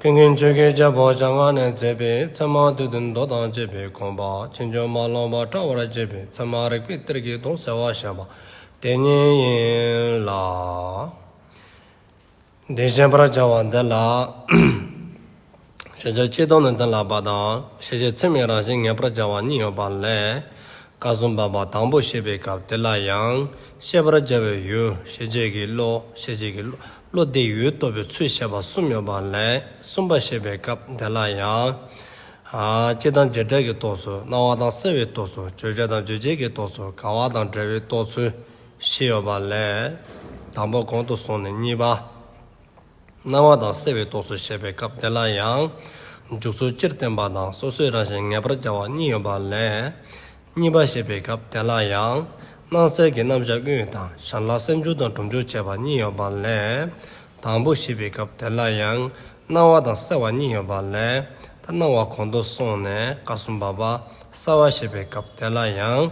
ཀུན་མཁྱེན་ཆོས་དགེ་རྒྱལ་པོ་ཞང་སྔགས་ནས་མཛད་པའི་ཚད་མ་དུས་བདུན་མདོ་དང་བཅས་པའི་ཁང་པ་ཆེན་ཆུང་མ་ལོངས་པ་བཀྲ་བར་བྱེད་པའི་ཚད་མ་རིག་པའི་གཏེར་གྱི་དོང་གསལ་བར་བཞེངས་པ་དེ་ཉིད་ཡིན་ལ། འདི་ཤེས་པར་བྱ་བ་འདི་ལ། ཤེས་བྱ་སྤྱི་དོན་ནི་དོན་ལགས་པ་དང་ཤེས་བྱའི་མཚན་མའི་རང་བཞིན་ངེས་པར་བྱ་བ་གཉིས་ཡོད་པ་ལས། བཀའ་སྲུང་པ་པ་དང་པོ་ཤེས་པའི་སྐབས་དེ་ལ་ཡང་ཤེས་པར་བྱ་བའི་ཡུལ་ཤེས་བྱེད་ཀྱི་བློ་ཤེས་བྱེད་ཀྱི་བློ་བློ་བདེ་ཡུལ་སྟོབས་པའི་ཚུལ་བཤད་པ་གསུམ་ཡོད་པ་ལས་གསུམ་པ་བཤད་པའི་སྐབས་འདི་ལ་ཡང། སྤྱི་དང་རྗེས་འབྲེལ་གྱི་རྟོགས་ཚུལ་སྣང་བ་དང་གསལ་བའི་རྟོགས་ཚུལ་བརྗོད་བྱ་དང་རྗོད་བྱེད་ཀྱི་རྟོགས་ཚུལ་དགའ་བ་དང་བྲལ་བའི་རྟོགས་ཚུལ་བཞི་ཡོད་པ་ལས། དང་པོ་གོང་དུ་སོང་ནས་གཉིས་པ། སྣང་བ་དང་གསལ་བའི་རྟོགས་ཚུལ་བཤད་པའི་སྐབས་འདི་ལ་ཡང། འཇུག་ཚུལ་སྤྱིར་བསྟན་པ་དང་སོ་སོའི་རང་བཞིན་ངེས་པར་འབྱར་བ་གཉིས་ཡོད་པ་ལས། གཉིས་པ་ཞེས་པའི་སྐབས་དེ་ལ་ཡང། སྣང་གསལ་གྱི་རྣམ་གཞག་དབུས་དང་ཞར་ལ་སེམས་སྦྱོར་དང་སྒྲུབ་སྦྱོར་བྱེད་པ་གཉིས་ཡོད་པ་ལས། དང་པོ་ཞེས་པའི་སྐབས་དེ་ལ་ཡང། སྣང་བ་དང་གསལ་བ་གཉིས་ཡོད་པ་ལས། ད་སྣང་བ་གོང་དུ་སོང་ནས་ཀ་གསུམ་པ་པ་གསལ་བ་ཞེས་པའི་སྐབས་དེ་ལ་ཡང།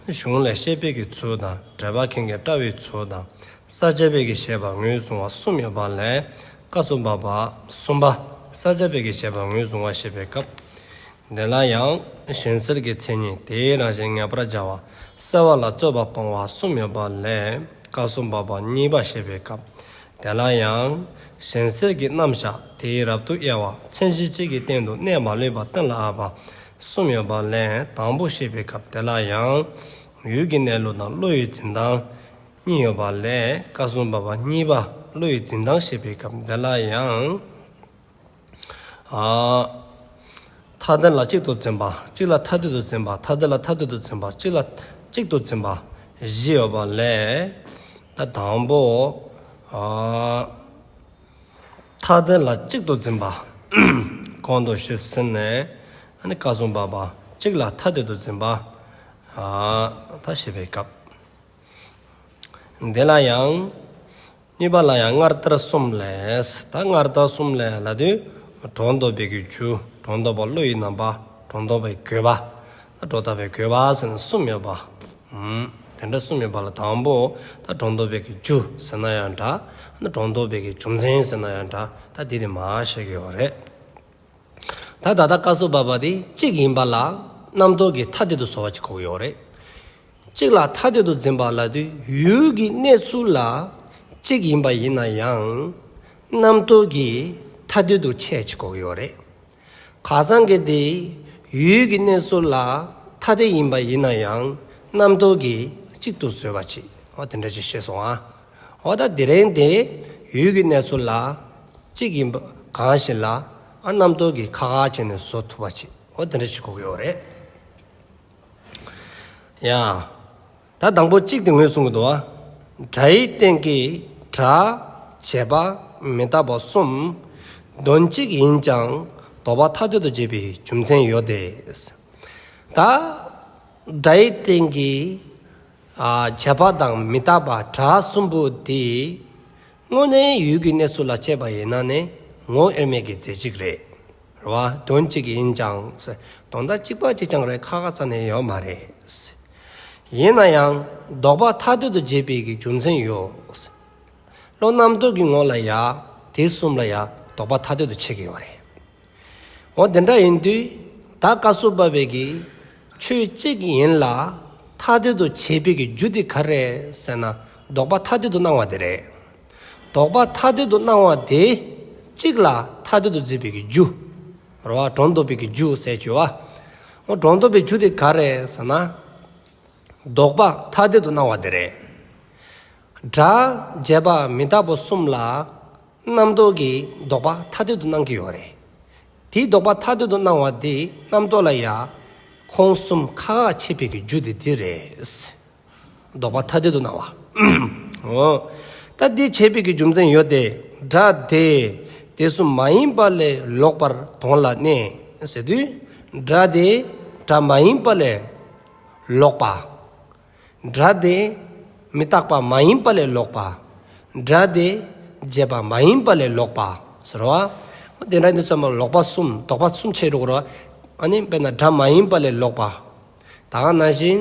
གཞུང་ལས་ཤེས་དཔལ་གྱི་ཚུལ་དང་འགྲེལ་པ་མཁན་གྱི་བཀྲ་བའི་ཚུལ་དང་ས་བཅད་དཔལ་གྱི་བཞེད་པ་ངོས་བཟུང་བ་གསུམ་ཡོད་པ་ལས། ཀ་གསུམ་པ་པ་གསུམ་པ་ས་བཅད་དཔལ་གྱི་བཞེད་པ་ངོས་བཟུང་བ་ཞེས་པའི་སྐབས། དེ་ལ་ཡང་གཞན་གསེར་གྱི་མཚན་ཉིད་དེའི་རང་བཞིན་ངེས་པར་བྱ་བ་གསལ་བ་ལ་རྩོད་པ་སྤོང་བ་གསུམ་ཡོད་པ་ལས་བཀའ་སྲུང་བ་པ་གཉིས་པ་བཤད་པའི་སྐབས་དེ་ལ་ཡང་གཞན་གསེར་གྱི་རྣམ་བཞག་དེའི་རབ་ཏུ་དབྱེ་བ་མཚན་གཞི་གཅིག་གི་སྟེང་དུ་གནས་མ་ལུས་པ་སྟོན་ལ་ཨ་བ་གསུམ་ཡོད་པ་ལས་དང་པོ་བཤད་པའི་སྐབས་དེ་ལ་ཡང་ཡུལ་གྱི་གནས་ལུགས་དང་བློ་ཡི་འཛིན་སྟངས་གཉིས་ཡོད་པ་ལས་བཀའ་སྲུང་བ་པ་གཉིས་པ་བློ་ཡི་འཛིན་སྟངས་བཤད་པའི་སྐབས་དེ་ལ་ཡང། མཐའ་བདེན་ལ་གཅིག་ཏུ་འཛིན་པ། གཅིག་ལ་མཐའ་བདུན་དུ་འཛིན་པ། མཐའ་བདེན་ལ་མཐའ་བདུན་དུ་འཛིན་པ། གཅིག་ལ་གཅིག་ཏུ་འཛིན་པ། བཞི་ཡོད་པ་ལས། དང་པོ། མཐའ་བདེན་ལ་གཅིག་ཏུ་འཛིན་པ། གོང་དུ་བཤད་ཟིན་ནས། བཀའ་སྲུང་བར་པ། གཅིག་ལ་མཐའ་བདུན་དུ་འཛིན་པ། ད་ཞེས་པའི་སྐབས། འདི་ལ་ཡང། གཉིས་པ་ལ་ཡང་སྔར་ལྟར་གསུམ་ལས། ད་སྔར་ལྟར་གསུམ་ལས་ལ་དུས། གྲོང་འདོགས་པའི་གོས་ཆུ། གྲོང་འདོགས་པ་བློ་ཡི་རྣམ་པ། གྲོང་འདོགས་པའི་གོས་པ། ད་གྲོགས་ལྟ་བའི་གོས་པ་ཟེར་ན་གསུམ་ཡོད་པ། དེ་འདྲ་གསུམ་ཡོད་པ་ལ་དང་པོ། ད་གྲོང་འདོགས་པའི་གོས་ཆུ་ཟེར་ན་ཡང་འདྲ། ད་གྲོང་འདོགས་པའི་གོས་ཆུ་མཚན་ཟེར་ན་ཡང་འདྲ། ད་དེ་དེ་མ་ཤེས་ཀྱི་ཡོད་རེད། ད་ད་ལྟ་བཀའ་སྲོལ་བབས་པ་དེ་གཅིག་ཡིན་པ་ལ། རྣམ་རྟོག་གི་མཐའ་དེ་དུ་བཟོ་བ་གཅིག་ཁོག་ཡོད་རེད། གཅིག་ལ་ཐ་དད་དུ་འཛིན་པ་ལ་དུས་ཡུལ་གྱི་གནས་ཚུལ་ལ་གཅིག་ཡིན་པ་ཡིན་ན་ཡང་རྣམ་རྟོག་གིས་ཐ་དད་དུ་ཆད་ཅི་གོག་ཡོད་རེད། ག་ཚང་གི་དེ་ཡུལ་གྱི་གནས་ཚུལ་ལ་ཐ་དད་ཡིན་པ་ཡིན་ན་ཡང་རྣམ་རྟོག་གིས་གཅིག་ཏུ་བཟོས་པ་ཅིག་འོ་དེ་འདྲ་ཅིག་ཤེས་སོང་ཨ། འོ་ད་དེ་རིང་དེ་ཡུལ་གྱི་གནས་ཚུལ་ལ་གཅིག་ཡིན་པ་གང་ཞིག་ལ་རྣམ་རྟོག་གིས་ཁག་ཁག་བྱས་ནས་བཟོ་ཐུབ་པ་ཅིག་འོ་དེ་འདྲ་ཅིག་གོག་ཡོད་རེད། ཡང། ད་དང་པོ་གཅིག་དེ་ངོས་གསུངས་གི་འདུག་གྲྭ་ཡི་སྟེང་གི་གྲྭ། བྱས་པ། མི་རྟག་པ་གསུམ། དོན་གཅིག་ཡིན་ཀྱང་དོགས་པ་ཐག་གཅོད་དུ་བྱེད་པའི་རྒྱུ་མཚན་ཡོད་དེ། ད། གྲྭ་ཡི་སྟེང་གི། བྱས་པ་དང་མི་རྟག་པ་གྲྭ་གསུམ་པོ་དེ། དངོས་གནས་ཡུལ་གྱི་གནས་ཚུལ་ལ་དཔྱད་པ་ཡིན་ན་ནི་ངོ་དབྱེར་མེད་ཀྱི་རྫས་གཅིག་རེད། རེད་བ་དོན་གཅིག་ཡིན་ཀྱང་དོན་དག་གཅིག་པ་གཅིག་ཀྱང་རེད་ཁ་ཁ་ཚ་ནས་ཡོད་མ་རེད། ཡིན་ན་ཡང་ལྡོག་པ་ཐ་དད་དུ་བརྗེས་པའི་གི་རྒྱུ་མཚན་ཡོད། བློ་རྣམ་རྟོག་གི་ངོ་ལ་ཡང་དེ་གསུམ་ལ་ཡང་ལྡོག་པ་ཐ་དད་དུ་ཕྱེ་གི་ཡོད་རེད། འོ་དེ་འདྲ་ཡིན་དུས་ད་བཀའ་བསུ་བབས་པའི་གི་ཆོས་གཅིག་ཡིན་ལ་ཐ་དད་དུ་བྱས་པའི་གི་རྒྱུ་དེ་ག་རེད་ཟེར་ན་ལྡོག་པ་ཐ་དད་དུ་སྣང་བ་དེ་རེད། ལྡོག་པ་ཐ་དད་དུ་སྣང་བ་དེ། གཅིག་ལ་ཐ་དད་དུ་འཛིན་པའི་རྒྱུ། རོ་བ་གྲོང་འདོགས་པའི་རྒྱུ་ཟས་སྤྱོད་བ། འོ་གྲོང་འདོགས་པའི་རྒྱུ་དེ་ག་རེད་ཟེར་ན། ལྡོག་པ་ཐ་དད་དུ་སྣང་བ་དེ་རེད། སྒྲ་བརྒྱད་པ་མི་རྟག་པོ་གསུམ་ལ། རྣམ་རྟོག་གིས་ལྡོག་པ་ཐ་དད་དུ་སྣང་གི་ཡོད་རེད། དེའི་ལྡོག་པ་ཐ་དད་དུ་སྣང་བ་དེ་རྣམ་རྟོག་ལ་ཡང། ཁོང་གསུམ་ཁ་ཁ་ཕྱེ་བའི་རྒྱུ་དེ་དེ་རེད། བཟློག་པ་ཐ་དད་དུ་སྣང་བ། ད་དེའི་འཆད་པའི་གི་རྒྱུ་མཚན་ཡོད་དེ། སྒྲ་དེ་དེ་བསོད་མ་ཡིན་པ་ལས་ལོག་པར་དོན་ལ་གནས་ཟེར་དུས། སྒྲ་དེ་སྒྲ་མ་ཡིན་པ་ལས་ལོག་པ། སྒྲ་དེ་མི་རྟག་པ་མ་ཡིན་པ་ལས་ལོག་པ། སྒྲ་དེ་བརྗེད་པ་མ་ཡིན་པ་ལས་ལོག་པ་ཟེར་རོ། དེ་འདྲ་ནི་བསོད་མ་ལོག་པ་གསུམ་བཟློག་པ་གསུམ་འཆད་འགྲོ་གི་རོ། དཔེར་ན་སྒྲ་མ་ཡིན་པ་ལས་ལོག་པ། ད་ག་ན་བཞིན།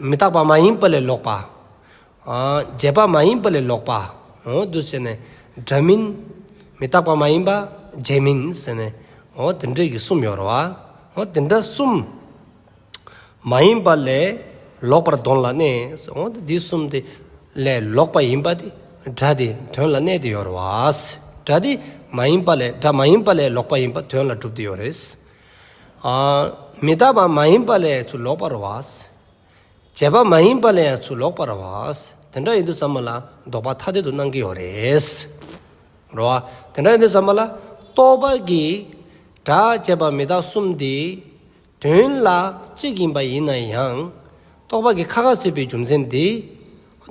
མི་རྟག་པ་མ་ཡིན་པ་ལས་ལོག་པ། བརྒྱད་པ་མ་ཡིན་པ་ལས་ལོག་པ། འོ་དུ་ཟེར་ནས། སྒྲ་མིན། མི་རྟག་པ་མ་ཡིན་པ། བརྒྱད་མིན་ཟེར་ནས། འོ་དེ་འདྲ་གི་གསུམ་ཡོད་རོ། འོ་དེ་འདྲ་གསུམ། མ་ཡིན་པ་ལས་ལོག་པར་དོན་ལ་གནས། འོ་དེ་འདི་གསུམ་དེ། ལས་ལོག་པ་ཡིན་པ་དེ། སྒྲ་དེ་དོན་ལ་གནས་དེ་ཡོད་རོ། སྒྲ་དེ། མ་ཡིན་པ་ལས་སྒྲ་མ་ཡིན་པ་ལས་ལོག་པ་ཡིན་པ་དོན་ལ་གྲུབ་དེ་ཡོད་རེད། མི་རྟག་པ་མ་ཡིན་པ་ལས་ཚུར་ལོག་པར་བས། བྱས་པ་མ་ཡིན་པ་ལས་ཡང་ཚུར་ལོག་པར་བས། དེ་འདྲ་ཡིན་དུ་བསམ་པ་ལ་ལྡོག་པ་ཐ་དད་དུ་སྣང་གི་ཡོད་རེད། རེད་བ། དེ་འདྲ་ཡིན་དུ་བསམ་པ་ལ་རྟོག་པ་གིས་སྒྲ་བྱས་པ་མི་རྟག་གསུམ་དེ་དོན་ལ་གཅིག་ཡིན་པ་ཡིན་ན་ཡང། རྟོག་པ་གིས་ཁ་ཁ་ཟེར་བའི་རྒྱུ་མཚན་དེ་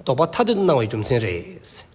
ལྡོག་པ་ཐ་དད་དུ་སྣང་བའི་རྒྱུ་མཚན་རེད།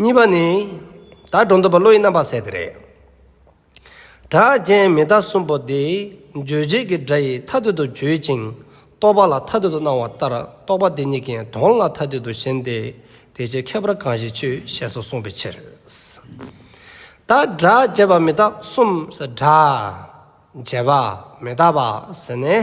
གཉིས་པ་ནི། ད་སྒྲོ་འདོགས་པ་བློ་ཡི་རྣམ་པར་ཟད་དེ་རེད། གྲགས་ཅན་མི་རྟག་གསུམ་པོ་འདི་རྗོད་བྱེད་ཀྱི་སྒྲ་ཡིས་མཐའ་གཏོད་དུ་བརྗོད་ཅིང་རྟོག་པ་ལ་མཐའ་གཏོད་དུ་སྣང་བ་ལྟར་རྟོག་པ་འདི་གཉིས་ཀྱི་དོན་ལ་མཐའ་གཏོད་དུ་ཞེན་ཏེ་དེ་ཆོས་ཁྱད་པར་གང་ཞིག་ཆོས་ཞེས་སོགས་གསུངས་པའི་ཕྱིར། ད་སྒྲ་བྱས་པ་མི་རྟག་གསུམ། སྒྲ་བྱས་པ་མི་རྟག་པ་ཟེར་ནས།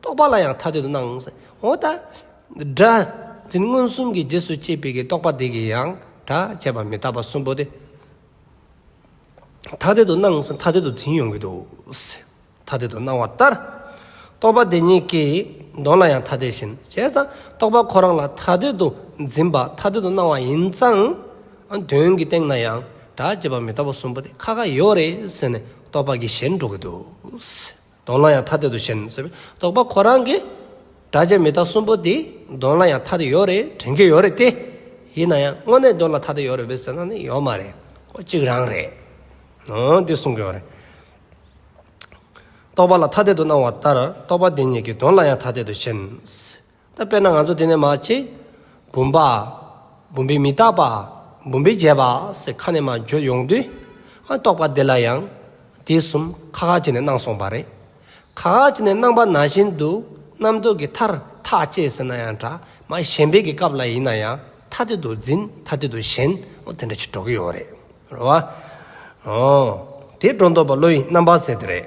རྟོག་པ་ལ་ཡང་ཐ་དད་དུ་སྣང། འོ་ད། སྒྲ། འཛིན་མངོན་གསུམ་གྱི་རྗེས་སུ་སྐྱེས་པའི་རྟོག་པ་དེ་གིས་ཡང་སྒྲ་བྱས་པ་མི་རྟག་པ་གསུམ་པོ་དེ། ཐ་དད་དུ་སྣང་ཐ་དད་དུ་འཛིན་ཡོང་གི་འདུག། ཐ་དད་དུ་སྣང་བ་ལྟར། རྟོག་པ་དེ་ཉིད་ཀྱིས་གདོན་ལ་ཡང་ཐ་དད་བཞིན་བྱས་ཙང་རྟོག་པ་ཁོ་རང་ལ་ཐ་དད་དུ་འཛིན་པ་ཐ་དད་དུ་སྣང་བ་ཡིན་ཙང། དོན་གྱི་སྟེང་ན་ཡང་སྒྲ་བྱས་པ་མི་རྟག་པ་གསུམ་པོ་དེ་ཁ་ཁ་ཡོད་རེད་ཟེར་ནས་རྟོག་པ་གིས་གཞན་འགྲོ་གི་འདུག། གདོང་ལ་ཡང་ཐ་དད་དུ་ཞེན་ཟེར་བས་རྟོག་པ་ཁོ་རང་གི་དགྲ་བཅས་མི་རྟག་གསུམ་པོ་དེའི་གདོང་ལ་ཡང་ཐ་དད་ཡོད་རེད་དྲན་གྱི་ཡོད་རེད་དེ། ཡིན་ན་ཡང་དངོས་གནས་གདོན་ལ་ཐ་དད་ཡོད་རེད་བེད་ཟེར་ན་ནི་ཡོད་མ་རེད་ཁོ་གཅིག་རང་རེད། ཨོ་འདི་གསུང་གི་ཡོད་རེད། རྟོག་པ་ལ་ཐ་དད་དུ་སྣང་བ་ལྟར་རྟོག་པ་དེ་ཉིད་ཀྱི་གདོན་ལ་ཡང་ཐ་དད་དུ་ཞེན། ད་དཔེར་ན་ང་ཚོ་དེ་ནས་མ་གཅིག། བུམ་པ། བུམ་པའི་མི་རྟག་པ། བུམ་པའི་རྒྱས་པ། ཟེར་ཁ་ནས་མ་བརྗོད་ཡོང་དུས། ཨ་རྟོགས་པ་དེ་ལ་ཡང། དེ་གསུམ་ཁ་ཁ་བྱས་ནས་གནང་སོང་བ་རེད། ཁ་ཁ་བྱས་ནས་གནང་པ་ན་བཞིན་དུ། རྣམ་རྟོག་གི་མཐར་ཐག་བཅད་ཟེར་ན་ཡང་འདྲ། མ་ཞན་པའི་གི་སྐབས་ལ་ཡིན་ན་ཡང། ཐ་དད་དུ་འཛིན་ཐ་དད་དུ་ཞེན། འོ་དེ་འདྲ་ཞིག་འགྲོ་གི་ཡོད་རེད། རེད་བ། འོ། དེ་སྒྲོ་འདོགས་པ་བློ་ཡི་རྣམ་པ་ཟེར་དེ་རེད།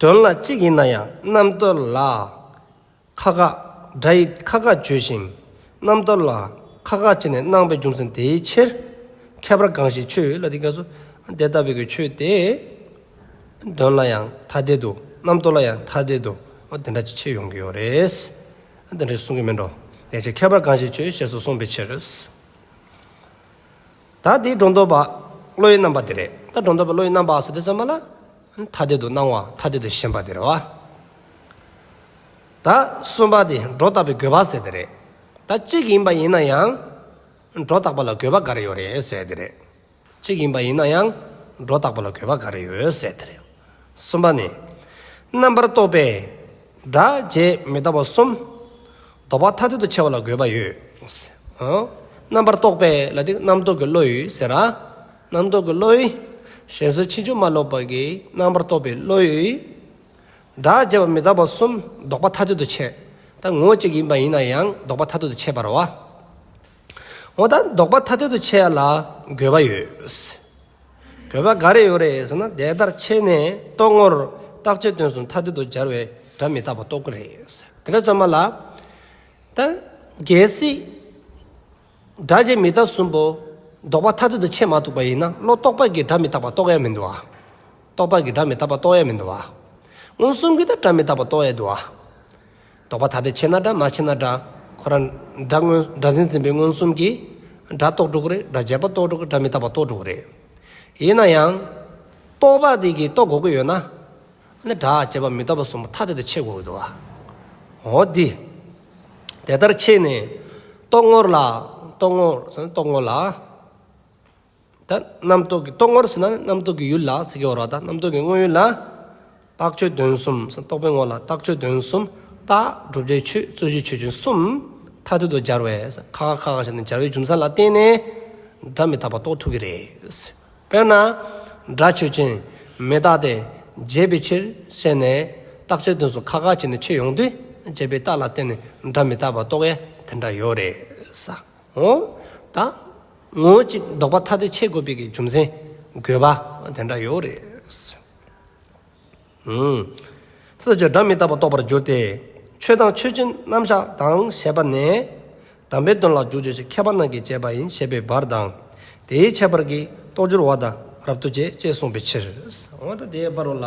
དོན་ལ་གཅིག་ཡིན་ན་ཡང་རྣམ་རྟོལ་ལ་ཁ་ཁ། སྒྲ་ཡིས་ཁ་ཁ་བརྗོད་ཅིང་རྣམ་རྟོལ་ལ་ཁ་ཁ་བྱས་ནས་སྣང་བའི་རྒྱུ་མཚན་དེའི་ཕྱིར། ཁྱད་པར་གང་ཞིག་ཆོས་ཡོད་ལ་དེ་ག་སོ། དེ་ལྟ་བུའི་ཆོས་དེ། དོན་ལ་ཡང་ཐ་དད་དུ་རྣམ་རྟོལ་ལ་ཡང་ཐ་དད་དུ་དེ་འདྲ་ཅིག་ཕྱིར་ཡོང་གི་ཡོད་རེད། དེ་འདྲ་ཞིག་གསུང་གི་མིན་འགྲོ། དེའི་ཕྱིར་ཁྱད་པར་གང་ཞིག་ཆོས་ཞེས་སོགས་གསུངས་པའི་ཕྱིར། ད་དེའི་སྒྲོ་འདོགས་པ་བློའི་རྣམ་པ་དེ་རེད། ད་སྒྲོ་འདོགས་པ་བློའི་རྣམ་པ་ཟེར་དུས་ཚང་མ་ལ། ཐ་དད་དུ་སྣང་བ་ཐ་དད་དུ་ཞེན་པ་དེ་རེད་བ། ད་གསུམ་པ་དེ་སྒྲོ་བཏགས་པའི་དགོས་པ་ཟེར་དེ་རེད། ད་གཅིག་ཡིན་པ་ཡིན་ན་ཡང། སྒྲོ་བཏགས་པ་ལ་དགོས་པ་ག་རེ་ཡོད་རེད་ཟེར་དེ་རེད། གཅིག་ཡིན་པ་ཡིན་ན་ཡང། སྒྲོ་བཏགས་པ་ལ་དགོས་པ་ག་རེ་ཡོད་ཟེར་དེ་རེད། གསུམ་པ་ནི། རྣམ་པར་རྟོག་པའི། སྒྲ་བརྗེད་མི་རྟག་པ་གསུམ། དོགས་པ་ཐ་དད་དུ་ཕྱེ་བ་ལ་དགོས་པ་ཡོད། རྣམ་པར་རྟོག་པས་ལ་དེ་རྣམ་རྟོག་གི་བློ་ཡོད་ཟེར། རྣམ་རྟོག་གི་བློ། གཞན་སོ་ཕྱིན་ཅུང་མ་ལོག་པ་གྱི་རྣམ་པར་རྟོག་པའི་བློ་ཡོད། སྒྲ་བརྗེད་པ་མི་རྟག་པ་གསུམ་ལྡོག་པ་ཐ་དད་དུ་ཕྱེ། ད་ངོ་བོ་གཅིག་ཡིན་པ་ཡིན་ན་ཡང་ལྡོག་པ་ཐ་དད་དུ་ཕྱེ་བར་བ། ངོ་ད་འདོགས་པ་ཐ་དད་དུ་ཕྱེ་ཡ་ལ་དགོས་པ་ཡོད། དགོས་པ་ག་རེ་ཡོད་རེད་ཟེར་ན་དེ་ལྟར་ཕྱེ་ནས་རྟོགས་ངོར་བརྟག་དཔྱད་དོན་སུ་ཐ་དད་དུ་སྦྱར་བའི་སྒྲ་མི་རྟག་པ་རྟོགས་ཀྱི་རེད། དེ་འདྲ་བརྩམས་པ་ལ། ད་གལ་སྲིད། སྒྲ་རྗེས་མི་རྟག་གསུམ་པོ་འདོགས་པ་ཐ་དད་དུ་ཕྱེ་མ་ཐུབ་པ་ཡིན་ན་བློ་རྟོག་པ་གིས་སྒྲ་མི་རྟག་པ་རྟོགས་ཡ་མི་འདུག་ཨ། རྟོག་པ་གིས་སྒྲ་མི་རྟག་པ་རྟོགས་ཡ་མི་འདུག་ཨ། མངོན་སུམ་གྱིས་ད་སྒྲ་མི་རྟག་པ་རྟོགས་ཡ་འདུག་ཨ། རྟོག་པ་ཐ་དད་ཕྱེ་ན་འདྲ་མ་ཕྱེ་ན་འདྲ། ཁོ་རང་སྒྲ། སྒྲ་འཛིན་འཛིན་པའི་མངོན་སུམ་གྱིས། སྒྲ་རྟོག་དྲུག་རེད་སྒྲ་རྒྱས་པ་རྟོག་དྲུག་སྒྲ་མི་རྟག་པ་རྟོག་དྲུག་རེད། ཡིན་ན་ཡང། རྟོག་པ་དེ་གིས་རྟོག་དགོས་ཀྱི་ཡོད་ན། ནི་སྒྲ་རྒྱས་པ་མི་རྟག་པ་གསུམ་པོ་ཐ་དད་དུ་ཕྱེ་དགོས་ཀྱི་འདུག་ཨ། འོ་དེ། དེ་ལྟར་ཕྱེས་ནས། རྟོག་ངོར་ལ། རྟོག་ངོར། རྟོག་ངོར་ལ། ད་རྣམ་རྟོག་གི་རྟོག་ངོར་ཟེར་ན་ནི་རྣམ་རྟོག་གི་ཡུལ་ལ་ཟེར་གྱི་ཡོད་རོགས་ད་རྣམ་རྟོག་གི་དངོས་ཡུལ་ལ། རྟགས་ཆོས་དོན་གསུམ་ཟེར་རྟོག་པའི་ངོར་ལ་རྟགས་ཆོས་དོན་གསུམ། རྟགས་བསྒྲུབ་བྱའི་ཆོས་རྩོད་གཞི་ཆོས་ཅན་གསུམ། མཐའ་གཏུལ་དུ་སྦྱར་བས་ཟེར་ཁ་ཁ་ཁ་ཁ་ཞེས་ནི་སྦྱར་བའི་རྒྱུ་མཚན་ལ་བརྟེན་ནས་སྒྲ་མི་རྟག་པ་རྟོགས་ཐུབ་ཀྱི་རེད། དཔེར་ན། སྒྲ་ཆོས་ཅན་མི་རྟག་སྟེ། བརྗེད་པའི་ཕྱིར་བཤད་ནས། རྟགས་ཆོས་དོན་གསུམ་ཁ་ཁ་ཅེས་ནི་ཆོས་ཡོང་དུས་བརྗེད་པའི་རྟགས་ལ་བརྟེན་ནས་སྒྲ་མི་རྟག་པ་རྟོགས་ཡས་དེ་འདྲ་ཡོད་རེད། འོ། ད། ངོ་གཅིག་བཟློག་པ་ཐ་དད་ཆས་བགོ་སྤེལ་གྱི་རྒྱུ་མཚན་དགོས་པ་དེ་འདྲ་ཡོད་རེད། སོ་སོའི་སྒྲ་མི་རྟག་པར་རྟོགས་པར་འགྱུར་ཏེ། ཆོས་དང་ཆོས་ཅན་རྣམ་གཞག་དང་ཞེས་པ་ནས། དམ་པའི་དོན་ལ་རྒྱུ་བརྗོད་ཅིང་མཁས་པ་རྣམས་ཀྱིས་དཔྱད་པ་ཡིན་ཞེས་པའི་བར་དང། དེའི་ཁྱད་པར་གྱིས་རྟོགས་འགྱུར་བ་དང་རབ་ཏུ་བཅད་ཅེས་གསུངས་པའི་ཕྱིར། འོན་ཏེ་དེའི་བར་རོ་ལ།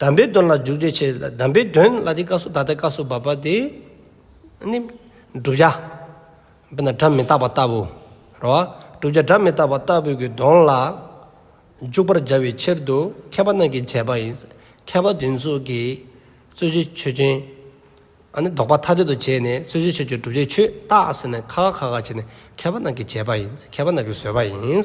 གདམས་པའི་དོན་ལ་འཇུག་བྱའི་ཕྱིར་གདམས་པའི་དོན་ལ་དེའི་སྐབས་སུ་ད་ལྟའི་སྐབས་སུ་བབ་པ་དེ་ནི། བསྒྲུབ་བྱ། དཔེར་ན་སྒྲ་མི་རྟག་པ་ལྟ་བུ། ར་བ། བསྒྲུབ་བྱ་སྒྲ་མི་རྟག་པ་ལྟ་བུ་གྱི་དོན་ལ་འཇུག་པར་བྱ་བའི་ཕྱིར་དུ་མཁས་པ་རྣམས་ཀྱིས་བྱས་པ་ཡིན། མཁས་པ་དེ་ཚོ་གིས་རྩོད་བྱའི་ཆོས་ཅན། ལྡོག་པ་ཐ་དད་དུ་བྱས་ནས་རྩོད་བྱའི་ཆོས་ཀྱི་བསྒྲུབ་བྱའི་ཆོས་བཏགས་ཟིན་ནས་ཁ་ཁ་ཁ་ཁ་བྱས་ནས་མཁས་པ་རྣམས་ཀྱིས་བྱས་པ་ཡིན། མཁས་པ་རྣམས་ཀྱིས་བཟོས་པ་ཡིན།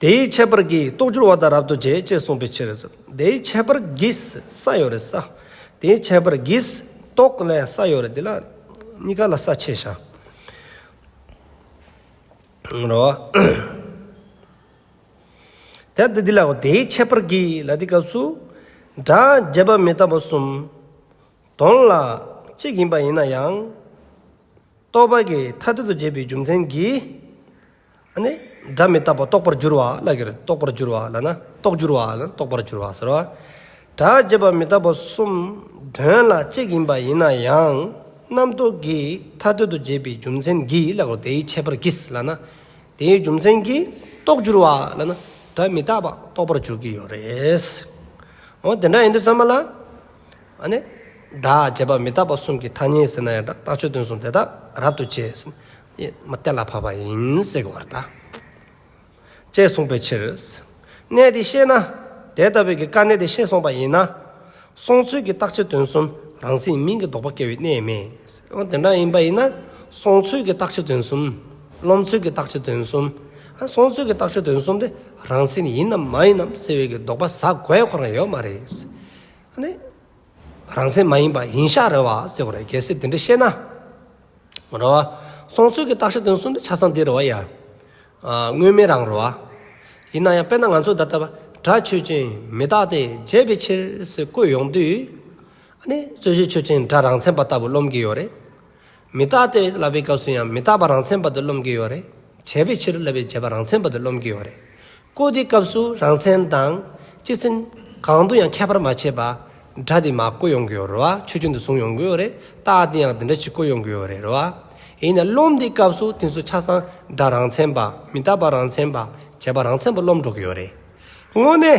དེའི་ཁྱད་པར་གྱིས་རྟོགས་འགྱུར་བ་དང་རབ་ཏུ་འབྱེད་ཅེས་གསུངས་པའི་ཕྱིར། དེའི་ཁྱད་པར་གྱིས་ས་ཡོད་རེ་ས། དེའི་ཁྱད་པར་གྱིས་རྟོགས་ནས་ས་ཡོད་རེ་འདི་ལ་གཉིས་ཀ་ལ་ས་ཕྱེད་བྱ། རོ། དེ་ལྟ་འདི་ལའོ་དེའི་ཁྱད་པར་གྱིས་ལ་དེའི་སྐབས་སུ། སྒྲ་རྒྱས་པ་མི་རྟག་པ་གསུམ། དོན་ལ་གཅིག་ཡིན་པ་ཡིན་ན་ཡང། རྟོགས་པ་གྱི་མཐའ་གཏན་དུ་འབྱེད་པའི་རྒྱུ་མཚན་གྱིས། ནི། སྒྲ་མི་རྟག་པ་རྟོགས་པར་འགྱུར་བ་ལ་ཁྱེར། རྟོགས་པར་འགྱུར་བ་ལ་ན་རྟོགས་འགྱུར་བ་ལ་ནི་རྟོགས་པར་འགྱུར་བ་ཟེར། སྒྲ་རྗེས་པ་མི་རྟག་པ་གསུམ་དོན་ལ་གཅིག་ཡིན་པ་ཡིན་ན་ཡང་རྣམ་རྟོག་གིས་མཐའ་གཏོད་དུ་བྱས་པའི་རྒྱུ་མཚན་གྱིས་ལ་ཁོ་དེའི་ཁྱད་པར་གྱིས་ལ་ན། དེའི་རྒྱུ་མཚན་གྱིས་རྟོགས་འགྱུར་བ་ལ་ན་སྒྲ་མི་རྟག་པ་རྟོགས་པར་འགྱུར་གྱི་ཡོད་རེད། འོ་དེ་འདྲ་ཡིན་དུས་ཚང་མ་ལ། ནི། སྒྲ་རྗེས་པ་མི་རྟག་པ་གསུམ་གྱི་ཐ་སྙད་ཟེར་ན་ཡང་སྒྲ་རྟག་ཆོས་སྟོན་གསུམ་དེ་དག་རབ་ཏུ་བྱས། གཏན་ལ་ཕབ་པ་ཡིན་སྲེག་བར་བལྟ། ཅེས་གསུངས་པའི་ཕྱིར། གནད་འདི་ཤེས་ན། དེ་ལྟ་བུའི་གི་ཀ་གནད་འདི་ཤེས་སོང་པ་ཡིན་ན། སོང་ཚུལ་གྱི་རྟགས་ཆེ་དོན་གསུམ་རང་སེམས་མིང་གི་ལྡོག་པ་སྐྱེ་བའི་གནས་མེད། དེ་འདྲ་ཡིན་པ་ཡིན་ན། སོང་ཚུལ་གྱི་རྟགས་ཆེ་དོན་གསུམ། རློམ་ཚུལ་གྱི་རྟགས་ཆེ་དོན་གསུམ། སོང་ཚུལ་གྱི་རྟགས་ཆེ་དོན་གསུམ་དེ་རང་སེམས་ཡིན་ནམ་མ་ཡིན་ནམ་སེལ་བའི་གི་ལྡོག་པ་ཟ་དགོས་ཁོ་རང་ཡོད་མ་རེད། ནི། རང་སེམས་མ་ཡིན་པ་ཡིན་ཤག་རེད་བ་སེལ་བར་གལ་སྲིད་དེ་འདྲ་ཤེས་ན། ར་བ། སོང་ཚོད་ཀྱི་རྟགས་ཤེས་དོན་གསུམ་པའི་ཆ་ཚང་འདི་ར་བ་ཡ། དངོས་མེད་རང་ར་བ། ཡིན་ན་ཡང་དཔེར་ན་ང་ཚོ་ད་ལྟ་བར་གྲགས་ཆོས་ཅན་མི་རྟག་སྟེ་བརྗེད་པའི་ཕྱིར་ཟེར་བཀོད་ཡོང་དུས། ཨ་ནི་རྩོད་གཞི་ཆོས་ཅན་སྒྲ་རང་མཚན་པ་ལྟ་བུ་རློམ་གྱི་ཡོད་རེད། མི་རྟག་སྟེ་བསླབ་པའི་སྐབས་སུ་ཡང་མི་རྟག་པ་རང་མཚན་པ་དུ་རློམ་གྱི་ཡོད་རེད། བྱས་པའི་ཕྱིར་བསླབ་པའི་བྱས་པ་རང་མཚན་པ་དུ་རློམ་གྱི་ཡོད་རེད། བཀོད་དེ་སྐབས་སུ་རང་མཚན་དང། སྤྱི་མཚན། གང་དུ་ཡང་ཁྱད་པར་མ་བྱེད་པ། སྒྲ་དེ་མ་བཀོད་ཡོང་གི་ཡོད་རེད་བ། ཆོས་ཅན་དུ་བཟུང་ཡོང་གི་ཡོད་རེད། རྟགས་དེ་ཡང་དེ་འདྲ་ཞིག་བཀོད་ཡོང་གི་ཡོད་རེད་བ། ཡིན་ནའི་རློམ་དེའི་སྐབས་སུ་དེང་སུ་ཆ་ཚང་སྒྲ་རང་མཚན་པ། མི་རྟག་པ་རང་མཚན་པ། བྱས་པ་རང་མཚན་པ་རློམ་འགྲོ་གི་ཡོད་རེད། དངོས་གནས།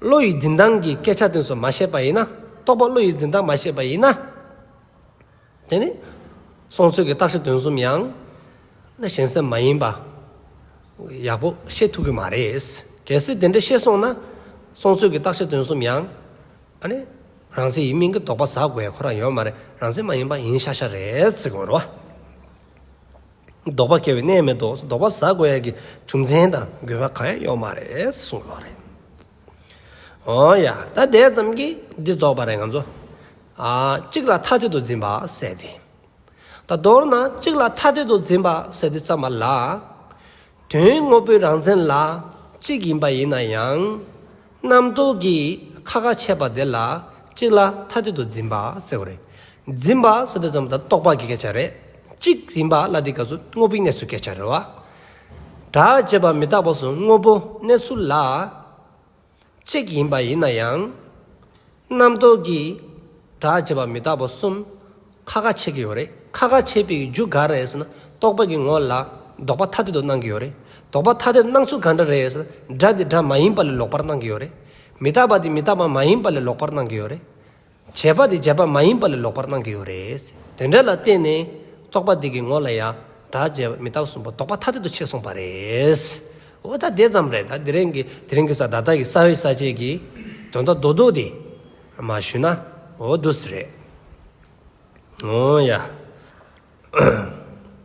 བློ་ཡི་འཛིན་སྟངས་ཀྱི་སྐད་ཆ་དེ་ཚོ་མ་ཤེས་པ་ཡིན་ན། རྟོགས་པ་བློ་ཡི་འཛིན་སྟངས་མ་ཤེས་པ་ཡིན་ན། དེ་ནི། སོང་ཚོད་ཀྱི་རྟགས་ཤིག་དོན་གསུམ་ཡང། ན་གཞན་སེམས་མ་ཡིན་པ། ཡག་པོ་ཤེས་ཐུབ་ཀྱི་མ་རེད། གལ་སྲིད་དེ་འདྲ་ཤེས་སོང་ན། སོང་ཚོད་ཀྱི་རྟགས་ཤིག་དོན་གསུམ་ཡང། ཨ་ནི། རང་བཙན་ཡིན་མིན་གྱི་དོགས་པ་ཟ་དགོས་ཁོ་རང་ཡོད་མ་རེད་རང་བཙན་མ་ཡིན་པ་ཡིན་ཤག་ཤག་རེད། ལྡོག་པ་སྐྱེ་བའི་གནས་མེད་དོ་ལྡོག་པ་ཟ་དགོས་ཡ་གི་རྒྱུ་མཚན་དང་དགོས་པ་གང་ཡང་ཡོད་མ་རེད་གསུངས་ལོག་རེད། ཨོ་ཡ་ད་དེ་ཙམ་གྱིས་འདི་རྫོགས་པ་རེད་ང་ཚོ་ཨ་གཅིག་ལ་ཐ་དད་དུ་འཛིན་པ་ཟེར་ཏེ། ད་མདོར་ན་གཅིག་ལ་ཐ་དད་དུ་འཛིན་པ་ཟེར་ཏེ་བརྩམས་པ་ལ། དོན་དངོས་པོའི་རང་མཚན་ལ་གཅིག་ཡིན་པ་ཡིན་ན་ཡང། རྣམ་རྟོག་གིས་ཁ་ཁ་ཆད་པ་དེ་ལ་གཅིག་ལ་མཐའ་གཅིག་ཏུ་འཛིན་པ་ཟེར་བ་རེད། འཛིན་པ་སོ་དེ་ཙམ་ལ་རྟོག་པ་གི་སྐད་ཆ་རེད། གཅིག་ཡིན་པ་ལ་དེ་སྐབས་སུ་དངོས་པོའི་གནས་ཚུལ་སྐད་ཆ་རེད་བ། དྲག་ཅེས་པ་མི་རྟག་པ་སུ་དངོས་པོ་གནས་ཚུལ་ལ། གཅིག་ཡིན་པ་ཡིན་ན་ཡང། རྣམ་རྟོག་གིས་དྲག་བྱས་པ་མི་རྟག་པ་གསུམ་ཁ་ཁ་འཆད་ཀྱི་ཡོད་རེད། ཁ་ཁ་འཆད་པའི་རྒྱུ་ག་རེད་ཟེར་ན་རྟོག་པ་གི་ངོ་ལ་ལྡོག་པ་ཐ་དད་དུ་སྣང་གི་ཡོད་རེད། ལྡོག་པ་ཐ་དད་སྣང་ཚུལ་ག་འདྲ་རེད་ཟེར་ན་སྒྲ་དེ་སྒྲ་མ་ཡིན་པ་ལས་ལོག་པར་སྣང་གི་ཡོད་རེད། མི་རྟག་པ་དེ་མི་རྟག་པ་མ་ཡིན་པ་ལས་ལོག་པར་སྣང་གི་ཡོད་རེད། བྱས་པ་དེ་བྱས་པ་མ་ཡིན་པ་ལས་ལོག་པར་སྣང་གི་ཡོད་རེད། དེ་འདྲ་ལ་བརྟེན་ནས་རྟོག་པ་དེ་གི་ངོ་ལ་ཡང་དག་བྱས་པ་མི་རྟག་གསུངས་པ་རྟོག་པ་ཐ་དད་དུ་ཕྱེ་གསུངས་པ་རེད། འོ་ད་དེ་ཙམ་རེད་ད་དེ་རིང་གི་དེ་རིང་གི་ས་ད་ལྟ་གི་ས་བོན་ས་བཅད་ཀྱི་དོན་དག་རྡོག་རྡོག་དེ་མ་ཞུས་ན་འོ་བསྡུ་སི་རེད། འོ་ཡ།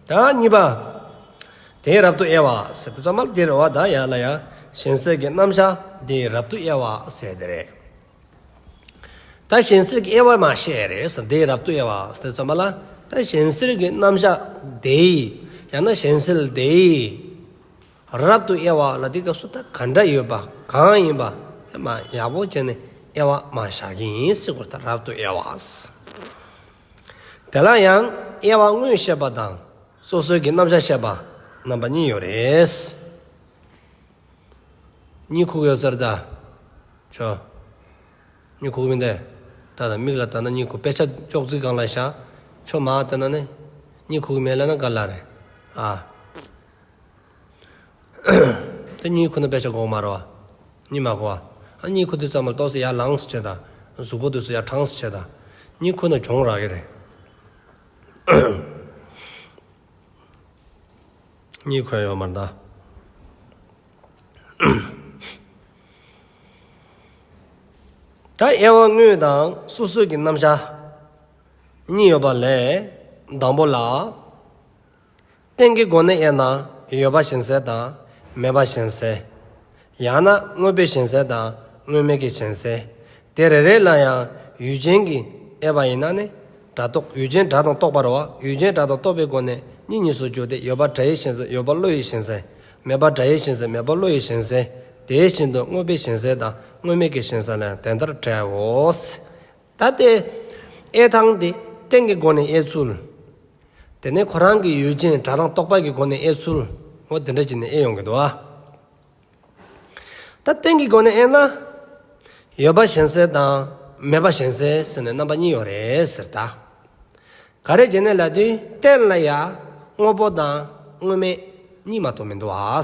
ད་གཉིས་པ། དེའི་རབ་ཏུ་དབྱེ་བ་ཟེར་ཏེ་ཙམ་མ་དེར་འོ་ད་ཡ་ལ་ཡང་གཞན་སེལ་གྱི་རྣམ་གཞག་དེའི་རབ་ཏུ་དབྱེ་བ་ཟེར་ཏེ་རེད། ད་གཞན་སེལ་གྱི་དབྱེ་བ་མ་བཤད་རེས་འདིའི་རབ་ཏུ་དབྱེ་བ་དེ་རྩོད་པ་ལ་ད་གཞན་སེལ་གྱི་རྣམ་གཞག་དེའི་ཡང་ན་གཞན་སེལ་དེའི་རབ་ཏུ་དབྱེ་བ་ལ་དེའི་སྐབས་སུ་ད་ག་འདྲ་ཡོད་པ་གང་ཡིན་པ་དེ་མ་ཡག་པོ་བྱས་ནས་དབྱེ་བ་མ་བཞག་གིན་སྲིད་ཁོ་ད་རབ་ཏུ་དབྱེ་བ། དེ་ལ་ཡང་དབྱེ་བ་དངོས་བཤད་པ་དང་སོ་སོའི་གྱི་རྣམ་གཞག་བཤད་པ་རྣམ་པ་གཉིས་ཡོད་རེད། གཉིད་ཁུག་ཡོད་ཚར་ད། བྱོ། གཉིད་ཁུག་མི་འདེ། ད་ད་མིག་ལ་ལྟ་ན་གཉིད་ཁུག་དཔེ་ཆ་ཅོག་ཙིག་སྒང་ལ་བཞག། ཁྱོད་མ་ལྟ་ན་ནི། གཉིད་ཁུག་མེད་ལ་ན་ག་ལ་རེད། ཨ། ད་གཉིད་ཁུག་ན་དཔེ་ཆ་འགོག་མ་རོ། གཉིད་མ་ཁུག་ཨ། ཨ་གཉིད་ཁུག་དུས་ཙམ་ལ་ཏོག་སེ་ཡར་ལངས་སུ་བྱེད་ད། གཟུགས་པོ་དུས་སུ་ཡར་དྲངས་སུ་བྱེད་ད། གཉིད་ཁུག་ན་གྱོང་རག་གི་རེད། གཉིས་འཁོན་ཡོང་མར་གནང། ད་དབྱེ་བ་དངོས་དང་སོ་སོའི་གི་རྣམ་གཞག་གཉིས་ཡོད་པ་ལས། དང་པོ་ལ། སྟེང་གི་སྒོ་ནས་དབྱེ་ན་ཡོད་པ་བཞིན་གསལ་དང་མེད་པ་བཞིན་གསལ། ཡང་ན་དངོས་པོའི་ཞེན་སེལ་དང་དངོས་མེད་ཀྱི་ཞེན་སེལ། དེ་རེ་རེ་ལ་ཡང་ཡུལ་ཅན་གྱི་དབྱེ་བ་ཡིན་ན་ནི། སྒྲ་རྟོག་ཡུལ་ཅན་སྒྲ་དང་རྟོག་པར་བ་ཡུལ་ཅན་སྒྲ་དང་རྟོག་པའི་སྒོ་ནས་གཉིས་གཉིས་སུ་འགྱུར་ཏེ་ཡོད་པར་སྒྲ་ཡི་ཞེན་སེལ་ཡོད་པར་བློ་ཡི་ཞེན་སེལ། མེད་པར་སྒྲ་ཡི་ཞེན་སེལ་མེད་པར་བློ་ཡི་ཞེན་སེལ། དེ་བཞིན་དུ་དངོས་པོའི་ཞེན་སེལ་དང་དངོས་མེད་ཀྱི་ཞེན་སེལ་ལ་ཡང་དེ་ལྟར་བྲལའོ། ད་ལྟའི་དབྱེ་སྟངས་འདི་རྟེན་གྱི་སྒོ་ནས་དབྱེ་ཚུལ། དེ་ནི་ཁོ་རང་གི་ཡུལ་ཅན་སྒྲ་དང་རྟོག་པ་གྱི་སྒོ་ནས་དབྱེ་ཚུལ། འོ་དེ་འདྲ་བྱས་ནས་དབྱེ་ཡོང་གི་འདུག་ཨ། ད་གཏན་གྱི་སྒོ་ནས་ཨེ་ན། ཡོད་པ་གཞན་སེལ་དང་མེད་པ་གཞན་སེལ་ཟེར་ནས་རྣམ་པ་གཉིས་ཡོད་རེད་ཟེར་ད། ག་རེ་བྱས་ནས་ལབ་དུས་གཏན་ལ་ཡ། དངོས་པོ་དང་དངོས་མེད་གཉིས་མ་གཏོགས་མི་འདུག་ཨ།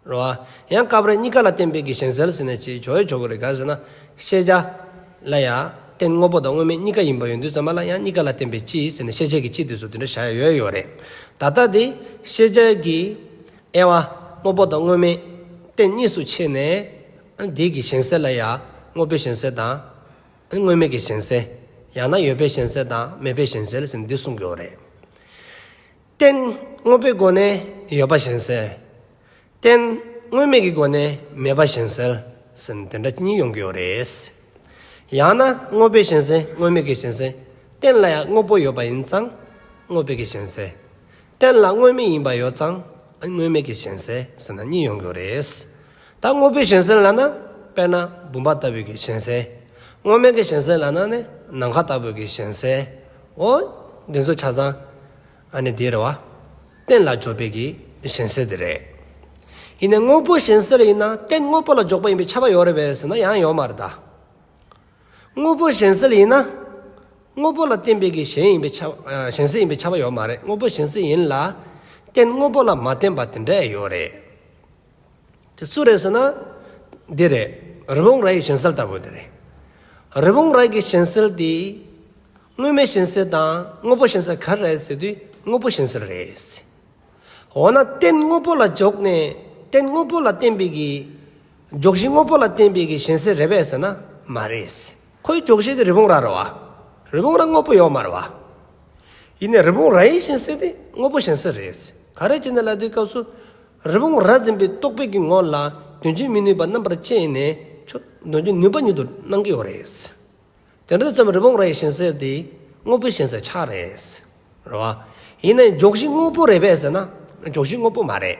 རེད་བ། ཡང་སྐབས་རེ་གཉིས་ཀ་ལ་གཏན་འབེབས་ཀྱི་གཞན་སེལ་ཟེར་ནས་བྱེད་ཆོག་ཡོད་ཆོག་གི་རེད་ག་རེ་ཟེར་ན། ཤེས་བྱ། ལ་ཡ། གཏན་དངོས་པོ་དང་དངོས་མེད་གཉིས་ཀ་ཡིན་པ་ཡོད་དུས་ཙམ་མ་ལ་ཡང་གཉིས་ཀ་ལ་གཏན་འབེབས་སྤྱི་ཟེར་ནས་ཤེས་བྱ་གྱི་སྤྱི་དེ་ཚོ་དེ་འདྲ་བཞག་ཡོད་ཡོད་རེད། ད་ལྟ་དེ། ཤེས་བྱ་གྱི། དབྱེ་བ། དངོས་པོ་དང་དངོས་མེད་རྟེན་གཉིས་སུ་ཕྱེ་ནས། བདེ་གི་གཞན་སེལ་ལ་ཡང་དངོས་པོའི་གཞན་སེལ་དང། དངོས་མེད་ཀྱི་གཞན་སེལ། ཡང་ན་ཡོད་པའི་གཞན་སེལ་དང་མེད་པའི་གཞན་སེལ་ཞེས་འདི་གསུངས་ཀྱི་འོ་རེད། རྟེན་དངོས་པོའི་སྒོ་ནས་ཡོད་པ་གཞན་སེལ། རྟེན་དངོས་མེད་ཀྱི་སྒོ་ནས་མེད་པ་གཞན་སེལ་ཞེས་འདི་འདྲ་གཉིས་ཡོང་གི་འོ་རེད། ཡང་ན་དངོས་པོའི་གཞན་སེལ་དངོས་མེད་ཀྱི་གཞན་སེལ། རྟེན་ལ་ཡང་དངོས་པོ་ཡོད་པ་ཡིན་ཙང་དངོས་པོའི་གཞན་སེལ། གཏན་ལ་དངོས་མེད་ཡིན་པ་ཡོད་ཙང་དངོས་མེད་ཀྱི་གཞན་སེལ་ཟེར་ན་གཉིས་ཡོང་གི་རེད། ད་དངོས་པོའི་གཞན་སེལ་ལ་ན་དཔེར་ན་བུམ་པ་ལྟ་བུའི་གི་གཞན་སེལ། དངོས་མེད་ཀྱི་གཞན་སེལ་ལ་ན་ནི་ནམ་མཁའ་ལྟ་བུའི་གི་གཞན་སེལ། འོ། འདི་ཚོ་ཆ་ཚང་ཨ་ནི་དེ་རེད་བ། གཏན་ལ་འཇོག་པའི་གི་གཞན་སེལ་དེ་རེད། ཡིན་ནའི་དངོས་པོའི་གཞན་སེལ་ཡིན་ན་གཏན་དངོས་པོ་ལ་འཇོག་པ་ཡིན་པའི་ཁྱབ་པ་ཡོད་རེད་བས་ཟེར་ན་ཡང་ཡོད་མ་རེད་ད། དངོས་པོ་གཞན་སེལ་ཡིན་ན། དངོས་པོ་ལ་བརྟེན་པའི་གཞན་ཡིན་པའི་ཆ། གཞན་སེལ་ཡིན་པའི་ཆ་བ་ཡོད་མ་རེད་དངོས་པོ་གཞན་སེལ་ཡིན་ལ། རྟེན་དངོས་པོ་ལ་མ་བརྟེན་པ་དེ་འདྲ་ཡོད་རེད། དེ་སུ་རེད་ཟེར་ན། འདི་རེད། རི་བོང་རྭ་ཡི་གཞན་སེལ་ལྟ་བུ་དེ་རེད། རི་བོང་རྭ་གི་གཞན་སེལ་དེ། དངོས་མེད་གཞན་སེལ་དང་དངོས་པོ་གཞན་སེལ་ག་རེ་རེད་ཟེར་དུས་དངོས་པོ་གཞན་སེལ་རེད། འོ་ན་རྟེན་དངོས་པོ་ལ་འཇོག་ནས་རྟེན་དངོས་པོ་ལ་བརྟེན་པའི་གཞན། མགྱོགས་གཞི་དངོས་པོ་ལ་བརྟེན་པའི་གི་ཞེན་སེལ་རེད་པས་ཟེར་ན་མ་རེད། ཁོའི་མགྱོགས་གཞི་དེ་རི་བོང་རྭ་རོ་བ། རི་བོང་རྭ་དངོས་པོ་ཡོད་མ་རེད་བ། ཡིན་ནའི་རི་བོང་རྭ་ཡི་ཞེན་སེལ་དེ་དངོས་པོ་ཞེན་སེལ་རེད། ག་རེ་བྱས་ནས་ལ་དེའི་སྐབས་སུ། རི་བོང་རྭ་འཛིན་པའི་རྟོག་པའི་གི་ངོ་ལ་དོན་བྱེད་མི་ནུས་པ་རྣམ་པར་དཔྱད་ནས་ཆོག་དོན་བྱེད་ནུས་པ་ཉིད་དུ་སྣང་གི་ཡོད་རེད། དེ་འདྲ་ཙམ་རི་བོང་རྭ་ཡི་ཞེན་སེལ་དེ་དངོས་པོའི་ཞེན་སེལ་ཆགས་རེད། རེད་བ། ཡིན་ནའི་མགྱོགས་གཞི་དངོས་པོ་རེད་པས་ཟེར་ན་མགྱོགས་གཞི་དངོས་པོ་མ་རེད།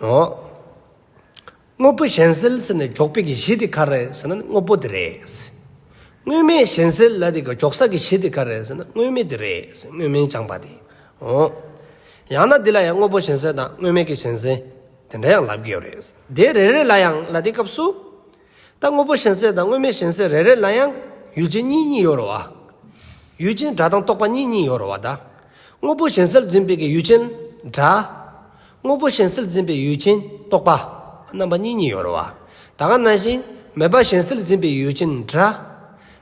ངོ། དངོས་པོ་གཞན་སེལ་ཟེར་ནས་འཇོག་པའི་གཞི་དེ་ག་རེད་ཟེར་ན་དངོས་པོ་དེ་རེད། དངོས་མེད་གཞན་སེལ་ལ་དེ་ག་འཇོག་ས་ཀྱི་གཞི་དེ་ག་རེད་ཟེར་ན་དངོས་མེད་དེ་རེད་ཟེར་དངོས་མིན་སྦྱངས་པ་དེ་ངོ། ཡང་ན་འདི་ལ་ཡང་དངོས་པོ་གཞན་སེལ་དང་དངོས་མེད་ཀྱི་གཞན་སེལ་དེ་འདྲ་ཡང་ལབ་དགོས་རེད། དེ་རེ་རེ་ལ་ཡང་ལ་དེའི་སྐབས་སུ། ད་དངོས་པོ་གཞན་སེལ་དང་དངོས་མེད་གཞན་སེལ་རེ་རེ་ལ་ཡང་ཡུལ་ཅན་གཉིས་གཉིས་ཡོད་རོ། ཡུལ་ཅན་སྒྲ་དང་རྟོག་པ་གཉིས་གཉིས་ཡོད་རོ་བ་གདའ། དངོས་པོ་གཞན་སེལ་འཛིན་པའི་ཀྱི་ཡུལ་ཅན་སྒྲ། དངོས་པོ་གཞན་སེལ་འཛིན་པའི་ཡུལ་ཅན་རྟོག་པ། རྣམ་པ་གཉིས་གཉིས་ཡོད་རོ་བ། ད་ག་ན་བཞིན་མེད་པ་གཞན་སེལ་འཛིན་པའི་ཡུལ་ཅན་སྒྲ།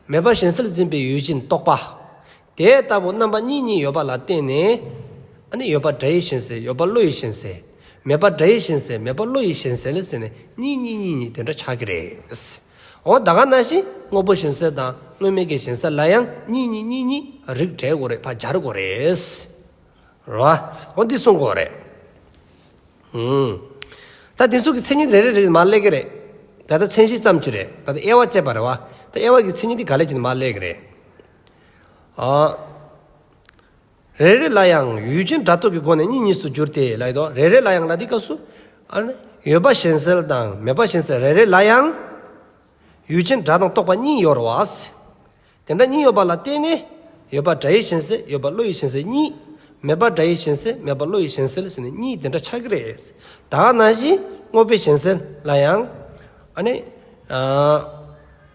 མེད་པ་གཞན་སེལ་འཛིན་པའི་ཡུལ་ཅན་རྟོག་པ། དེ་ལྟ་བུ་རྣམ་པ་གཉིས་གཉིས་ཡོད་པ་ལ་བརྟེན་ནས། ནི་ཡོད་པ་སྒྲ་ཡིས་ཞེན་ཟེར་ཡོད་པ་བློ་ཡིས་ཞེན་ཟེར། མེད་པ་སྒྲ་ཡིས་ཞེན་ཟེར་མེད་པ་བློ་ཡིས་ཞེན་ཟེར་ལ་ཟེར་ནས་གཉིས་གཉིས་གཉིས་གཉིས་དེ་འདྲ་ཆགས་ཀྱི་རེད། འོ་ད་ག་ན་བཞིན་དངོས་པོ་ཞེན་ཟེར་དང་དངོས་མེད་ཀྱི་ཞེན་ཟེར་ལ་ཡང་གཉིས་གཉིས་གཉིས་གཉིས་རིགས་བྲལ་དགོས་རེད་བ་སྦྱར་དགོས་རེད། རེད་བ། འོ་འདི་གསུངས་དགོས་རེད། ཨུན། ད་འདི་ཚོ་གི་མཚན་ཉིད་རེ་རེ་རེ་ནི་མར་སླེབས་ཀྱི་རེད། ད་ལྟ་མཚན་གཞི་ཙམ་གྱིས་རེད། ད་དབྱེ་བ་བཅས་པ་རེད་བ། ད་དབྱེ་བ་གི་མཚན་ཉིད་འདི་ག་ལེགས་ཀྱི་ནི་མར་སླེབས་ཀྱི་རེད། རེ་རེ་ལ་ཡང་ཡུལ་ཅན་སྒྲ་རྟོག་གི་སྒོ་ནས་གཉིས་གཉིས་སུ་འགྱུར་ཏེ་ལ་ཡི་དོགས་རེ་རེ་ལ་ཡང་ལ་དེའི་སྐབས་སུ། ཡོད་པ་གཞན་སེལ་དང་མེད་པ་གཞན་སེལ་རེ་རེ་ལ་ཡང། ཡུལ་ཅན་སྒྲ་དང་རྟོག་པ་གཉིས་ཡོར་བ། དེ་འདྲ་གཉིས་ཡོད་པ་ལ་བརྟེན་ནས། ཡོད་པ་སྒྲ་ཡིས་གཞན་སེལ་ཡོད་པ་བློ་ཡིས་གཞན་སེལ་གཉིས། མེད་པ་སྒྲ་ཡིས་གཞན་སེལ་མེད་པ་བློ་ཡིས་གཞན་སེལ་ཟེར་ནས་གཉིས་དེ་འདྲ་ཆགས་ཀྱི་རེད། དག་ན་བཞིན་དངོས་པོའི་གཞན་སེལ་ལ་ཡང།